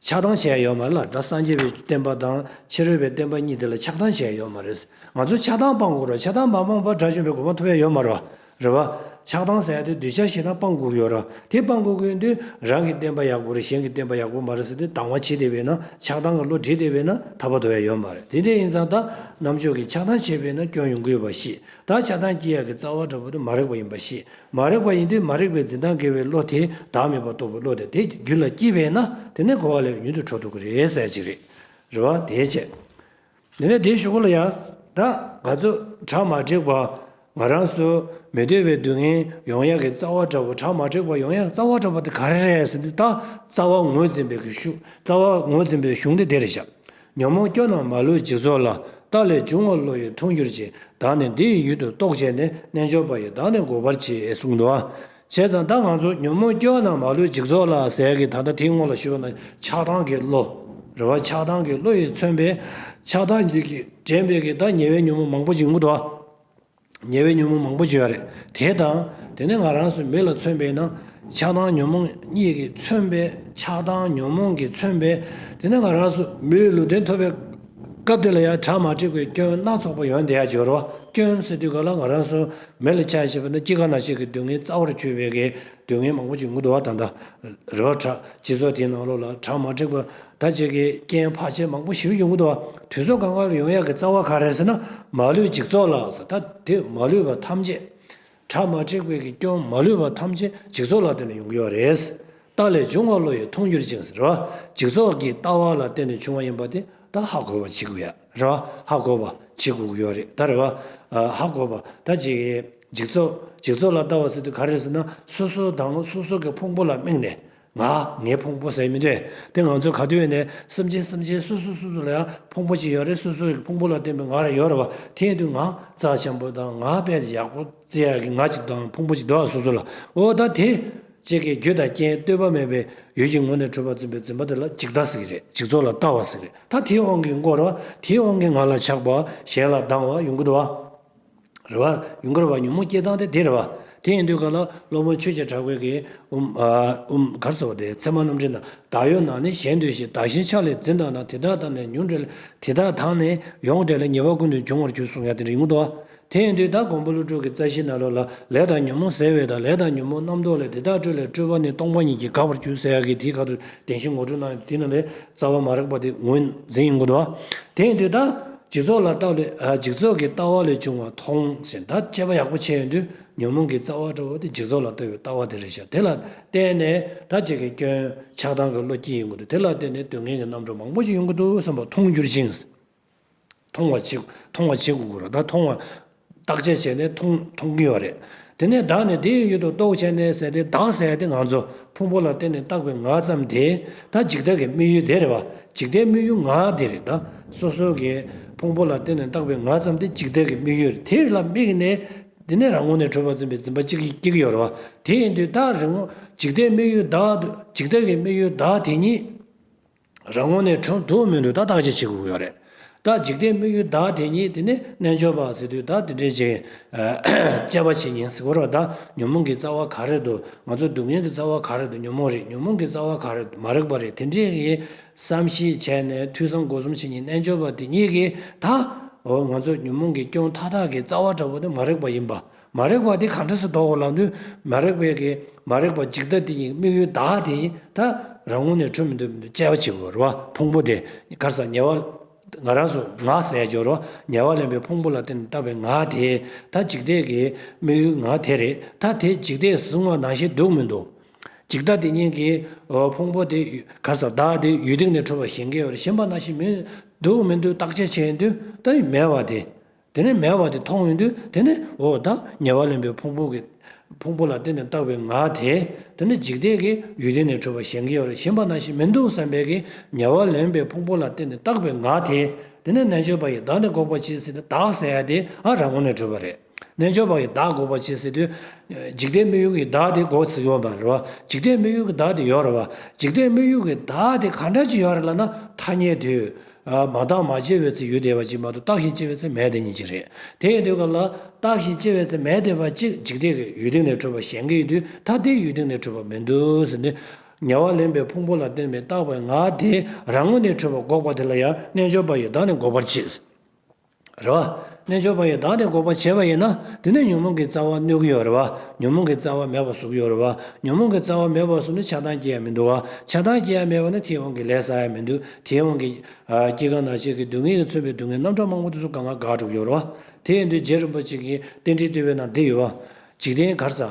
ཆགས་སྡང་བྱས་ཡོད་མ་རེད་ལ་སྒྲ་སངས་རྒྱས་པའི་བསྟན་པ་དང་ཕྱི་རོལ་པའི་བསྟན་པ་གཉིས་དེ་ལ་ཆགས་སྡང་བྱས་ཡོད་མ་རེད། ང་ཚོས་ཆགས་སྡང་སྤང་དགོས་རོགས་ཆགས་སྡང་མ་སྤངས་པར་དགྲ་བཅོམ་པའི་གོ་བ་འཐོབ་ཡ་ཡོད་མ་རེད་བ། ཆགས་སྡང་ཟེར་ཡ་དེ་གདུལ་བྱ་ཞིག་དང་སྤང་དགོས་ཡོད་རེད་དེ་སྤང་དགོས་དགོས་དུས་རང་གི་བསྟན་པ་ཡག་པོ་རེད་གཞན་གྱི་བསྟན་པ་ཡག་པོ་མ་རེད་ཟེར་དུས་སྡང་བ་བྱེད་བསྡད་པས་ན་ཆགས་སྡང་གི་བློ་བྲིད་བསྡད་པས་ན་ཐར་པ་འཐོབ་ཡ་ཡོད་མ་རེད་དེ་འདྲ་ཡིན་ཙང་ད་ནམ་ཕྱོགས་ཀྱི་ཆགས་སྡང་བྱས་པས་ན་སྐྱོན་ཡོང་གི་ཡོད་པ་ཤེས་བདག་ཆགས་སྡང་སྐྱེ་ཡ་གི་རྩ་བ་འདྲ་བོ་དེ་མ་རེག་པ་ཡིན་པ་ཤེས། མ་རེག་པ་ཡིན་དུས་མ་རེག་པའི་འཛིན་སྟངས་འགལ་བའི་བློ་དེས་བདག་མེད་པར་རྟོགས་པའི་བློ་དེ་དེ་རྒྱུད་ལ་སྐྱེས་པས་ན་དེ་ནི་གོ་བ་ལས་མྱུར་དུ་འཕྲོ་འདུག་གི་རེད་གསལ་བྱེད་རེད། རེ་བ་དེའི་ཆེད། དེ་ནས་དེའི་ཞུ་སྒོ་ལ་ཡང་བདག། ག་ཚོད་གྲ་མ་དྲེགས་པ། ང་རང་སུ། མི་འདོད་པའི་སྡུག་བསྔལ་ཡོང་ཡ་གི་རྩ་བ་འདྲ་བོ་གྲ་མ་དྲེགས་པ་ཡོང་ཡ་གི་རྩ་བ་འདྲ་བོ་དེ་ག་རེ་རེད་ཟེར་དུས་བདག་རྩ་བ་ངོས་འཛིན་པའི་གཞུ་རྩ་བ་ངོས་འཛིན་པའི་གཞུང་དེ་བདེ་རེ་བཞག་ཉོན་མོངས་སྐྱོན་རྣམས་མ་ལུས་འཇིག་ཚོགས་ལ། རྟགས་ལས་འབྱུང་བ་བློ་ཡིས་མཐོང་གྱུར་ཅིག། བདག་ནི་འདི་ཡི་ཡུལ་དུ་རྟོགས་བྱས་ནས། རྣལ་འབྱོར་པ་ཡིས་བདག་ནི་འགོག་པར་བགྱི། གསུངས། འདུ་བྱེད་དང་བདག་ང་ཚོ་ཉོན་མོངས་སྐྱོན་རྣམས་མ་ལུས་འཇིག་ཚོགས་ལ་ཟེར་གྱི་ད་ལྟ་དེའི་ངོ་ལ་ཞུ་བ་ན་ཆགས་སྡང་གི་བློ། རེ་བ་ཆགས་སྡང་གི་བློ་ཡིས་མཚོན་པའི། ཆགས་སྡང་གཉིས་ཀྱིས་འདྲེན་པས་ཀྱི་བདག་ཉེ་བའི་ཉོན་མོངས་མང་པོ་འཇིག་མུ་ཐུ། ཉེ་བའི་ཉོན་མོངས་མང་པོ་བརྗོད་རེ་དེ་དང། དེ་ནས་ང་རང་སུ་མེད་ལ་མཚོན་པས་ན། ཆགས་སྡང་ཉོན་མོངས་གཉིས་ཀྱིས་མཚོན་པས་ཆགས་སྡང་ཉོན་མོངས་ཀྱིས་མཚོན་པས། དེ་ནས་ང་རང་སུ་མེད་ལུས་བདེ་ཐོབ་པའི་སྐབས་དེ་ལ་ཡང་བྲག་དམར་དྲེགས་པའི་སྐྱོན་སྣ་ཚོགས་པ་ཡོང་དེ་ཡང་སྦྱོར་བ་སྐྱོན་སེལ་དུས་ག་ལ་ང་རང་སུ་མེད་ལ་ཆགས་ཞེས་པ་ན་སྐྱེ་རྒ་ན་འཆི་གི་སྡུག་བསྔལ་རྩ་བར་གྱུར་པའི་གེགས་སྡུག་བསྔལ་མང་པོ་བྱུང་ངུ་འདུ་བ་དང་འདྲ་རེ་བ་བྲག་སྤྱི་ཚོགས་དེའི་ནང་ལོགས་ལ་བྲག་དམར་དྲེགས་པ་ཟླ་གཅིག་གི་རྐྱེན་བག་ཕྱེ་མང་པོ་ཞིབ་ཡོང་གི་འདུག་དུས་ཚོད་གང་འགར་ཡོང་ཡག་གི་རྩ་བ་ག་རེ་ཟེར་ན་མ་ལུས་འཇིག་ཚོགས་ལགས་ད་དེ་མ་ལུས་པ་ཐམས་ཅད་གྲ་མ་འཁྲིག་པའི་གི་སྐྱོན་མ་ལུས་པ་ཐམས་ཅད་འཇིག་ཚོགས་ལ་བརྟེན་ནས་ཡོང་གི་ཡོག་རེད་སི་ཏཱ་ལས་འབྱུང་བ་བློ་ཡི་མཐོང་འགྱུར་ཅན་ཟེར་བ་འཇིག་ཚོགས་གི་ལྟ་བ་ལ་བརྟེན་ནས་བྱུང་བ་ཡིན་པ་དེ་ད་ཧ་གོ་བ་བྱེད་གི་ཡོག་རེད་བ་ཧ་གོ་བ་བྱེད་གི་ཡོག་རེད་ད་རེད་བ་ཧ་གོ་བ་ད་ཅིག་གི་འཇིག་ཚོགས་འཇིག་ཚོགས་ལ་ལྟ་བ་ཟེར་དུས་ག་རེ་ཟེར་ན་སོ་སོ་དང་སོ་སོ་གི་ཕུང་པོ་ལ་དམིགས་ནས་ང་ངའི་ཕུང་པོ་ཟེར་མི་འདོད་དེ་ང་ཚོའི་ག་དུས་ནས་སེམས་ཅན་སེམས་ཅན་སོ་སོ་སོ་སོ་ལ་ཡང་ཕུང་པོ་གཅིག་ཡོད་རེད་སོ་སོ་ཡི་ཕུང་པོ་ལ་བརྟེན་པའི་ང་རེ་ཡོད་རེད་བ་དེའི་དུས་ང་རྩ་ཆེན་པོ་དང་ང་དཔེ་ཡག་པོ་བརྩི་ཡག་གི་ང་གཅིག་དང་ཕུང་པོ་གཅིག་འདུག་ཨ་སོ་སོ་ལ་འོ་ད་དེ། ཅེས་ཀྱི་རྒྱུ་དང་རྐྱེན་ལྟོས་པ་མེད་པའི་ཡུལ་གྱི་ངོ་ནས་འཁྲུལ་པ་འཛིན་པའི་འཛིན་པ་དེ་ལ་གཅིག་ལྟ་ཟིག་རེད་གཅིག་ཚོགས་ལ་ལྟ་བ་ཟིག་རེད་ད་དེའི་དབང་གིས་འགོར་བ་དེའི་དབང་གིས་ང་ལ་ཆགས་པ་བ་གཞན་ལ་སྡང་བ་ཡོང་གི་འདུག་བ། རེ་བ། ཡུངས་ཀར་བ་ཉོན་མོངས་སྐྱེས་སྟངས་དེ་དེ་རེ་བ། དེ་ཡིན་དུས་ག་ལ་སློབ་དཔོན་ཆོས་རྗེ་གྲགས་པའི་གིས། ཨུའམ། གར་ཟེར་བ་དེ་ཚད་མ་རྣམ་འགྲེལ་ན་བདག་ཡོད་ན་ནི་གཞན་དུ་ཞེས་བདག་གཞན་ཕྱག་ལས་འཛིན་དག་ན་དེ་དག་དང་ནི་ཉོན་འབྲེལ་དེ་དག་དང་ནི་ཡོངས་འབྲེལ་ཉེ་བར་ཀུན་ཏུ་འབྱུང་བར་གྱུར་གསུང་ཡང་དེ་རིང་དུ། དེ་ཡིན་དུས་བདག་འགོང་པོ་ཀླུ་སྒྲུབ་ཀྱི་རྩ་ཤེ་ན་ལོ་ལ་ལས་དང་ཉོན་མོངས་ཟད་བས་དང་ལས་དང་ཉོན་མོངས་རྣམ་རྟོག་ལས་དེ་དག་སྤྲོས་ལས་སྤྲོས་པ་ནི་སྟོང་པ་ཉིད་ཀྱིས་འགགས་པར་གྱུར་ཟེར་ཡ་གིས་དེའི་ག་དུ་བདེན་བཞི་ངོ་སྤྲོད་ན་དེ་ན་ལས་རྩ་བ་མ་རེག་པ་དེ་ངོས་འཛིན་ཡིན་དགོས་དོ། དེ་ཡིན་དུས་བདག། འཇིག་ཚོགས་ལ་བརྟགས་ལས་འཇིག་ཚོགས་ཀྱི་ལྟ་བ་ལས་བྱུང་བ་མཐོང་ཟིན་ད་དཔྱད་པ་ཡག་པོ་བྱས་ཡོང་དུས་ཉོན་མོངས་ཀྱི་རྩ་བ་འདྲ་བོ་དེ་འཇིག་ཚོགས་ལ་ལྟོས་པའི་ལྟ་བ་དེ་རེད་ཤག་དེ་ལ་བརྟེན་ནས་ད་བྱེད་ཀྱི་སྐྱོན་ཆགས་སྡང་གི་བློ་སྐྱེ་ཡོང་གི་འདུག་དེ་ལ་བརྟེན་ནས་དུས་ངན་གྱི་རྣམ་གྲངས་མང་པོ་ཞིག་ཡོང་གི་འདུག་བསམ་པ་མཐོང་འགྱུར་ཞིང་མཐོང་བ་བྱེད་མཐོང་བ་བྱེད་དགོས་ཀྱི་རེད་ད་མཐོང་བ་བརྟག་དཔྱད་བྱས་ནས་མཐོང་གི་ཡོད་རེད། དེ་ནས་བདག་ནི་དེའི་ཡུལ་དུ་རྟོག་བྱས་ནས་ཟད་དེ་བདག་ཟད་དེ་ང་ཚོ་ཕུང་པོ་ལ་བརྟེན་ནས་བཏགས་པའི་ངག་ཙམ་དེ་ད་འཇིག་ལྟ་གི་དམིགས་ཡུལ་དེ་རེད་བ། འཇིག་ལྟའི་དམིགས་ཡུལ་ངག་དེ་རེད་ད། སོ་སོ་གི་ཕུང་པོ་ལ་བརྟེན་ནས་བཏགས་པའི་ངག་ཙམ་དེ་འཇིག་ལྟ་གི་དམིགས་ཡུལ་དེ་ལ་དམིགས་ནས། དེ་ནས་རང་ངོ་ནས་གྲོལ་བར་འཛིན་པའི་འཛིན་པ་ཅིག་སྐྱེ་གི་ཡོད་རེད་བ། དེ་ཡིན་དུས་ད་རེ་ངོ་འཇིག་ལྟའི་དམིགས་ཡུལ་བདག་འདུག་འཇིག་ལྟ་གི་དམིགས་ཡུལ་བདག་དེ་ཉིད། རང་ངོ་ནས་འཁྲུག་འདུག་མི་འདུག་ད་བདག་ཅི་བྱེད་དགོས་ཀྱི་ཡོད་རེད། བདག་འཇིག་རྟེན་དམིགས་ཡུལ་བདག་དེ་ཉིད་དེ་ནི་རྣལ་འབྱོར་པ་ཟེར་དུས་བདག་དེ་འདྲའི་བྱེད་དཔྱད་པ་བྱེད་ཉིན་གཟིགས་བར་བ་བདག་ཉོན་མོངས་ཀྱི་རྩ་བ་ག་རེ་འདུག་ང་ཚོ་སྡུག་བསྔལ་གྱི་རྩ་བ་ག་རེ་འདུག་ཉོན་མོངས་རིག་ཉོན་མོངས་ཀྱི་རྩ་བ་ག་རེ་འདུག་མ་རིག་པ་རིག་དེ་འདྲའི་བསམ་གཞིག་བྱས་ནས་ཐོས་བསམ་སྒོ་གསུམ་བྱེད་ཉིན་རྣལ་འབྱོར་པ་དེ་ཉིད་ཀྱིས་ད་འོ་ང་ཚོ་ཉོན་མོངས་ཀྱི་སྐྱོན་མཐའ་དག་གི་རྩ་བ་འདྲ་བོ་དེ་མ་རིག་པ་ཡིན་པ། མ་རེག་པ་དེ་གང་འབྲས་སུ་ལྡོག་གོ་ལགས་དུས་མ་རེག་པའི་གི་མ་རེག་པ་འཇིག་ལྟ་དེ་ཉིད་དམིགས་ཡུལ་བདག་དེ་ཉིད་ད་རང་ངོ་ནས་འཕྲོས་མི་འདོད་མི་འདོད་དཔྱད་པ་བྱེད་དགོས་རོ། ཕུང་པོ་དེ་གར་ཟག་ཉེ་བ་ང་རང་སོ་ང་ཟས་སྦྱོར་རོ་ཉེ་བ་ལེན་པའི་ཕུང་པོ་ལ་བརྟེན་ནས་ལྟ་བའི་ང་དེ་ད་འཇིག་ལྟས་ཀྱི་དམིགས་ཡུལ་ང་དེ་རེད་ད་དེ་འཇིག་ལྟས་སུ་བཟུང་བ་ན་ཞེ་སྡུག་མི་འདུག་འཇིག་ལྟ་དེ་ཉིད་ཀྱི་ཕུང་པོ་དེ་གར་ཟག་བདག་དེ་ཡུལ་སྟེང་ནས་འཕྲོས་པ་ཞེན་གེ་བར་ཞེན་པ་ན་ཞེ་མི་སྡུག་མི་འདུག་བརྟག་དཔྱད་བྱེད་དུས་ད་ཡུལ་མེད་བ་དེ་དེ་ནས་མེ་བ་དེ་མཐོང་བའི་དུས་དེ་ནས་འོ་དང་ཉེ་བར་ལེན་པའི་ཕུང་པོ་གི། ཕུང་པོ་ལ་བརྟེན་ནས་བཏགས་པའི་ངག་དེས་དེ་ནི་འཇིག་རྟེན་གྱི་ཡུལ་དེ་ནས་འཕྲོས་པ་གཞན་གྱི་བར་ཞེན་པ་ན་ཞིག་མི་འདུག་བསམ་པའི་གིས་ཉེ་བར་ལེན་པའི་ཕུང་པོ་ལ་བརྟེན་ནས་བཏགས་པའི་ངག་དེས་དེ་ནི་རྣལ་འབྱོར་པ་ཡི་དྭགས་ནི་འགོག་པར་བྱེད་སྲིད་དེ་དག་སའི་དེ་འང་རང་ངོ་ནས་བགྲོད་པ་རེད། རྣལ་འབྱོར་པ་ཡི་དྭགས་འགོག་པར་བྱེད་སྲིད་དུས། འཇིག་རྟེན་དམིགས་ཡུལ་གྱི་ཡི་དྭགས་དེ་འགོག་སྲིད་ཡོད་མ་རེད་བ། འཇིག་རྟེན་དམིགས་ཡུལ་གྱི་བདག་དེ་ཡོད་རེད་བ། འཇིག་རྟེན་དམིགས་ཡུལ་གྱི་བདག་དེ་གང་འདྲ་ཅིག་ཡོད་རེད་ལ་ན་ཐ་སྙད་དུས། མ་བརྟགས་མ་དཔྱད་པའི་ཚེ་ཡུལ་དེ་བ་གཅིག་མ་གཏོགས་བརྟགས་ཤིང་དཔྱད་པའི་ཚེ་མེད་དེ་ཉིད་གཅིག་རེད། དེ་ཡི་དུས་སྐབས་ལ། བརྟགས་ཤིང་དཔྱད་པའི་ཚེ་མེད་དེ་བ་གཅིག་འཇིག་རྟེན་གྱི་ཡུལ་སྟེང་ནས་འཕྲོས་པ་གཞན་གྱི་ཡུལ་དུས་ཐ་དད་ཡུལ་སྟེང་ནས་འཕྲོས་པ་མི་འདུག་ཟེར་ནས། ཉེ་བར་ལེན་པའི་ཕུང་པོ་ལ་བརྟེན་པའི་བརྟགས་པའི་ངག་དེས་རང་ངོས་ནས་འཕྲོས་པ་འགོག་པ་དེ་ལ་ཡང་རྣལ་འབྱོར་པ་ཡི་དྭགས་ནི་འགོག་པར་བྱེད། རེད་བ། རྣལ་འབྱོར་པ་ཡིས་བདག་དེ་འགོག་པར་བྱེད་པ་ཡིན་ན་དེ་ནི་ཉོན་མོངས་ཀྱི་རྩ་བ་གནོད་ཀྱི་ཡོད་རེད་བ། ཉོན་མོངས་ཀྱི་རྩ་བ་མེད་པར་གཟུགས་ཡོད་རེད་བ། ཉོན་མོངས་ཀྱི་རྩ་བ་མེད་པར་གཟུགས་ནི་ཆགས་སྡང་སྐྱེ་ཡ་མི་འདུག་བ། ཆགས་སྡང་སྐྱེ་ཡ་མེད་པ་ནི་དེའི་དབང་གིས་ལས་བསགས་ཡ་མི་འདུག་དེའི་དབང་གིས། སྐྱེ་རྒ་ན་འཆི་གི་སྡུག་བསྔལ་གྱིས་མཚོན་པའི་སྡུག་བསྔལ་རྣམ་གྲངས་མང་པོ་དེ་ཚོ་གང་ལ་དགག་སྒྲུབ་ཡོད་རེད་བ། དེ་ཡིན་དུས་རྗེ་རིན་པོ་ཆེ་གིས་རྟེན་འབྲེལ་བསྟུད་པའི་ནང་འདི་ཡོད་བ། འཇིག་རྟེན་གར་ཟག།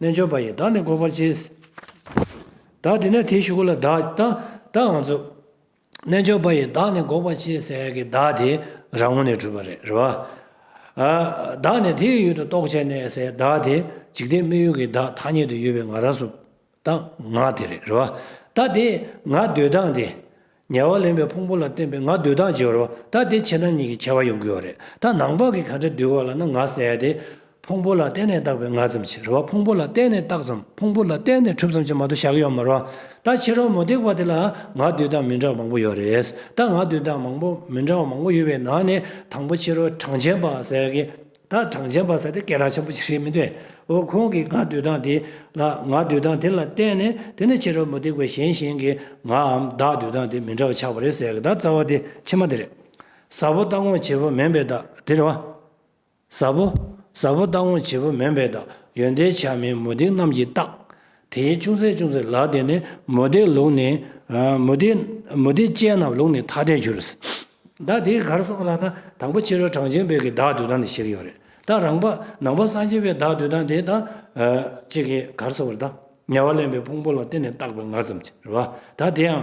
རྣལ་འབྱོར་པ་ཡིས་བདག་ནི་འགོག་པར་བྱེད། བདག་དེ་ནས་དེའི་ཞུགས་ལ་བདག་བདག་འང་རྫོགས། རྣལ་འབྱོར་པ་ཡིས་བདག་ནི་འགོག་པར་བྱེད་ཟེར་གྱི་བདག་དེ་རང་ངོ་ནས་གྲུབ་པ་རེད་རེད། བདག་ནི་དེའི་ཡུལ་དུ་རྟོགས་བྱས་ནས་ཟེར་བདག་དེ་འཇིག་རྟེན་སྨིན་ཡུལ་གྱི་བདག་ཐ་སྙད་དུ་ཡོད་པའི་ང་རང་སུ་བདག་ང་དེ་རེད་རེད། བདག་དེ་ང་འདོད་སྟངས་དེ་ཉལ་བ་ལེན་པའི་ཕུང་པོ་ལ་བརྟེན་པའི་ང་སྡུད་དག་སྦྱོར་བ་དག་དེ་ཁྱེད་རང་ཉིད་ཀྱིས་ཁྱེར་བ་ཡོང་གི་ཡོད་རེད་ད་ནང་པ་གིས་ག་འདྲ་འདུལ་བ་ལ་ན་ང་ཟེར་ཏེ། ཕུང་པོ་ལ་བརྟེན་ནས་བཏགས་པའི་ང་ཙམ་གྱིས་རེད་བ་ཕུང་པོ་ལ་བརྟེན་ནས་བཏགས་ཙམ་ཕུང་པོ་ལ་བརྟེན་ནས་གྲུབ་ཙམ་གྱིས་མ་གཏོགས་བཞག་གི་ཡོད་མ་རེད་བ་ད་ཁྱེད་རང་མུ་སྟེགས་པ་དེ་ལ་ང་སྡུད་དག་མི་འདྲ་བ་མང་པོ་ཡོད་རེད་ད་ང་སྡུད་དག་མང་པོ་མི་འདྲ་བ་མང་པོ་ཡོད་པའི་ནང་ནས་དང་པོ་ཁྱེད་རང་གྲངས་ཅན་པ་ཟེར་གི། ད་གྲངས་ཅན་པ་ཟེར་ཏེ་སྐད་གྲགས་ཆེན་པོ་ཅིག་རེད་མི་འདོད། འོ་ཁོང་གིས་ང་སྡོད་སྟངས་དེ་ལ་ང་སྡོད་སྟངས་དེ་ལ་བལྟས་ནས་དེ་ནི་ཕྱི་རོལ་མུ་སྟེགས་པ་གཞན་བཞིན་གྱིས་ངའམ་བདག་སྡོད་སྟངས་དེ་མི་འདྲ་བ་ཆགས་པ་རེད་ཟེར་གདའ་རྩ་བ་དེ་ཕྱི་མ་དེ་རེད། ཟབ་བོ་ལྟ་དགོངས་བྱེད་པོ་མིན་པའི་བདག་དེ་རེད་བ། ཟབ་བོ། ཟབ་བོ་ལྟ་དགོངས་བྱེད་པོ་མིན་པའི་བདག་ཡོན་ཏན་ཆ་མེད་མུ་སྟེགས་རྣམས་ཀྱི་རྟགས། དེའི་ཅུང་ཟད་ཅུང་ཟད་ལགས་དེ་ནི་མུ་སྟེགས་ལུགས་ནི། མུ་སྟེགས་མུ་སྟེགས་ཅན་རྣམས་ལུགས་ནི་ཐ་དད་འགྱུར། བདག་དེའི་གར་སོང་ལགས་ན་དང་པོ་ཕྱི་རོལ་གྲངས་ཅན་བོད་ཀྱི་བདག་འདུལ་སྟངས་དེ་ཞིག་ཡོད་རེད་ད་རང་པ་ནང་པ་སངས་རྒྱས་པའི་བདག་འདུལ་སྟངས་དེ་དང། གཅིག་གིས་གར་སོང་བར་དང་ངལ་བ་ལེན་པའི་ཕུང་པོ་ལ་བརྟེན་ནས་བཏགས་པའི་ངག་ཙམ་གྱི་རེད་བ་ད་དེའང།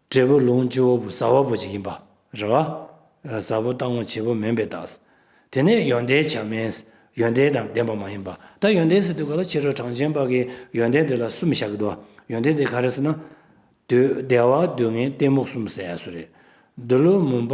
འབྲས་བུ་ལོངས་སྤྱི་བོ་བུ་ཟ་བ་པོ་ཅིག་ཡིན་པ། རེ་བ། ཟ་བོ་རྟག་མོ་བྱེད་པོ་མིན་པའི་རྟགས། དེ་ནས་ཡོན་ཏན་བྱམས་མས། ཡོན་ཏན་དང་ལྡན་པ་མ་ཡིན་པ། ད་ཡོན་ཏན་ཟེར་དུས་ག་ལ་ཕྱི་རོལ་གྲངས་ཅན་པ་གིས་ཡོན་ཏན་དེ་ལ་གསུམ་བཞག་གི་འདུག་བ། ཡོན་ཏན་དེ་ག་རེ་ཟེར་ན། བདེ་བ་སྡུག་བསྔལ་གཏི་མུག་གསུམ་ཟེར་ཡ་གསོལ་རེད། འདི་ལོའི་མུན་པ།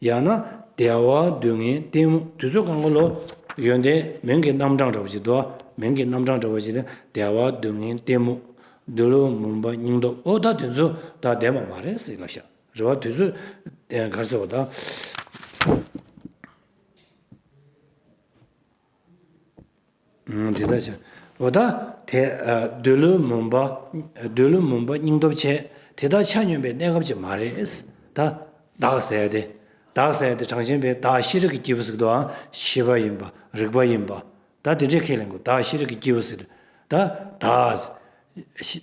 ཡང་ན་བདེ་བ་སྡུག་བསྔལ་གཏི་མུག་དུས་ཚོད་གང་གི་ལོ། ཡོན་ཏན་མིང་གི་རྣམ་གྲངས་འདྲ་བ་ཞིག་འདུག་མིང་གི་རྣམ་གྲངས་འདྲ་བ་ཞིག་ལས་བདེ་བ་སྡུག་བསྔལ་གཏི་མུག། འདི་ལོ་མུན་པ་སྙིང་སྟོབས་ཨོ་ད་དེ་ཚོ་ད་བདེན་པ་མ་རེད་སེ་ལབ་ཤག་རེད་བ་དུས་ཚོད་ག་ཟེར་བ་ད། དེ་དག་བྱ། འོ་ད། དེ། འདོད་ལུས་མུན་པ། འདོད་ལུས་མུན་པ་སྙིང་སྟོབས་ཆེ། དེ་དག་ཆ་སྙོམས་པའི་གནས་སྐབས་ཅིག་མ་རེད། ད། བདག་གསལ་ཏེ། བདག་གསལ་ཏེ་གྲངས་ཅན་པའི་བདག་ཤེས་རིག་གི་སྐྱེས་བུ་ཟིག་ཏུའང་ཤེས་པ་ཡིན་པ། རིག་པ་ཡིན་པ། ད་དེ་འདྲའི་ཁས་ལེན་དགོས་བདག་ཤེས་རིག་གི་སྐྱེས་བུ་ཟིག་ཏུ། ད། བདག།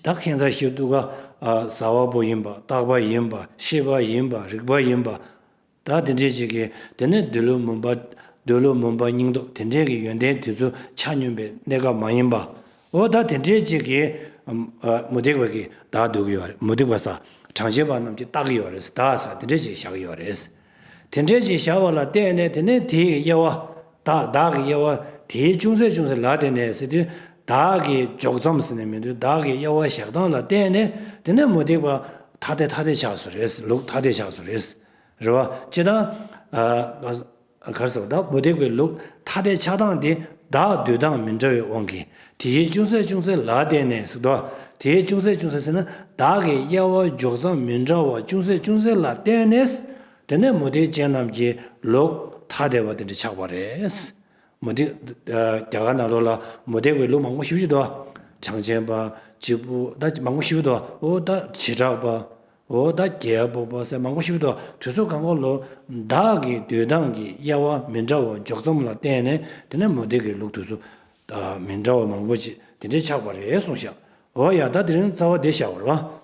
ད་ཁེ་མཛའ་ཤེས་བཏུ་ག། བཟའ་བ་པོ་ཡིན་པ། རྟག་པ་ཡིན་པ། ཤེས་པ་ཡིན་པ། རིག་པ་ཡིན་པ། བདག་དེ་འདྲའི་ཞིག་གིས་དེ་ནས་འདོད་བློའི་མུན་པ། འདོད་བློའི་མུན་པ་སྙིང་སྟོབས་དེ་འདྲའི་གི་ཡོན་ཏན་དེ་ཚོ་ཆ་སྙོམས་པའི་གནས་སྐབས་མ་ཡིན་པ། འོ་བདག་དེ་འདྲའི་ཅིག་གིས། མུ་སྟེགས་པ་གིས་བདག་འདོད་གི་ཡོད་རེད་མུ་སྟེགས་པ་ས་གྲངས་ཤེས་པ་རྣམས་ཀྱིས་བརྟག་གི་ཡོད་རེད་ས་བདག་ས་དེ་འདྲའི་ཞིག་བཞག་གི་ཡོད་རེད་ས། དེ་འདྲའི་ཞིག་བཞག་པ་ལ་བརྟེན་ནས་དེ་ནས་དེའི་གི་དབྱེ་བ། བདག་བདག་གི་དབྱེ་བ་དེའི་ཅུང་ཟད་ཅུང་ཟད་ལ་བརྟེན་ནས་ཟེར་དུས་བདག་གི་འཇོག་མཚམས་ཟེར་ནས་མི་འདོད་བདག་གི་དབྱེ་བ་བཞག་སྟངས་ལ་བརྟེན་ནས་དེ་ནས་མུ་སྟེགས་པ་ཐ་དད་ཐ་དད་ཆགས་སུ་རེད་ས་ལུགས་ཐ་དད་ཆགས་སུ་རེད་ས། རེད་བ། ཅེས་དང། གར་སོགས་དང་མུ་སྟེགས་པའི་ལུགས་ཐ་དད་ཆགས་སྡང་དེ་དག་བསྡུས་སྟངས་མི་འདྲ་བའི་དབང་གིས་དེ་བཞིན་ཅུང་ཟད་ཅུང་ཟད་ལ་བརྟེན་ནས་སུ་དོ། དེའི་ཅུང་ཟད་ཅུང་ཟད་ཟེར་ན་བདག་གི་དབྱེ་བ་འཇོག་སྟངས་མི་འདྲ་བ་ཅུང་ཟད་ཅུང་ཟད་ལ་བརྟེན་ནས། དེ་ནས་མུ་སྟེགས་ཅན་རྣམས་ཀྱི་ལུགས་ཐ་དད་པ་དེ་འདྲ་ཆགས་པ་རེད། མུ་སྟེགས། རྒྱ་གར་ནང་ལོགས་ལ་མུ་སྟེགས་པའི་ལུགས་མང་པོ་ཞིབ་ཞུ་དོ། བྱང་ཆེན་པ། སྤྱིལ་པོ། མང་པོ་ཞིབ་དོ། བོ་ད། བྱེ་བྲག་པ། འོ་ད་རྒྱལ་པོ་སྤོ་སེ་མང་པོ་ཞིག་ཏུ་དུས་ཚོད་གང་གོ་ལོ། བདག་གི་བསྡུས་སྟངས་ཀྱི་དབྱེ་བ་མི་འདྲ་བ་འཇོག་མཚམས་ལ་བརྟེན་ནས་དེ་ནས་མུ་སྟེགས་ཀྱི་ལུགས་དུས་ཚོད་མི་འདྲ་བ་མང་པོ་ཅིག་དེ་འདྲས་ཆགས་པ་རེད་གསུངས་ཤག་འོ་ཡ་ད་དེ་རིང་རྩ་བ་འདི་བཞག་པར་བ།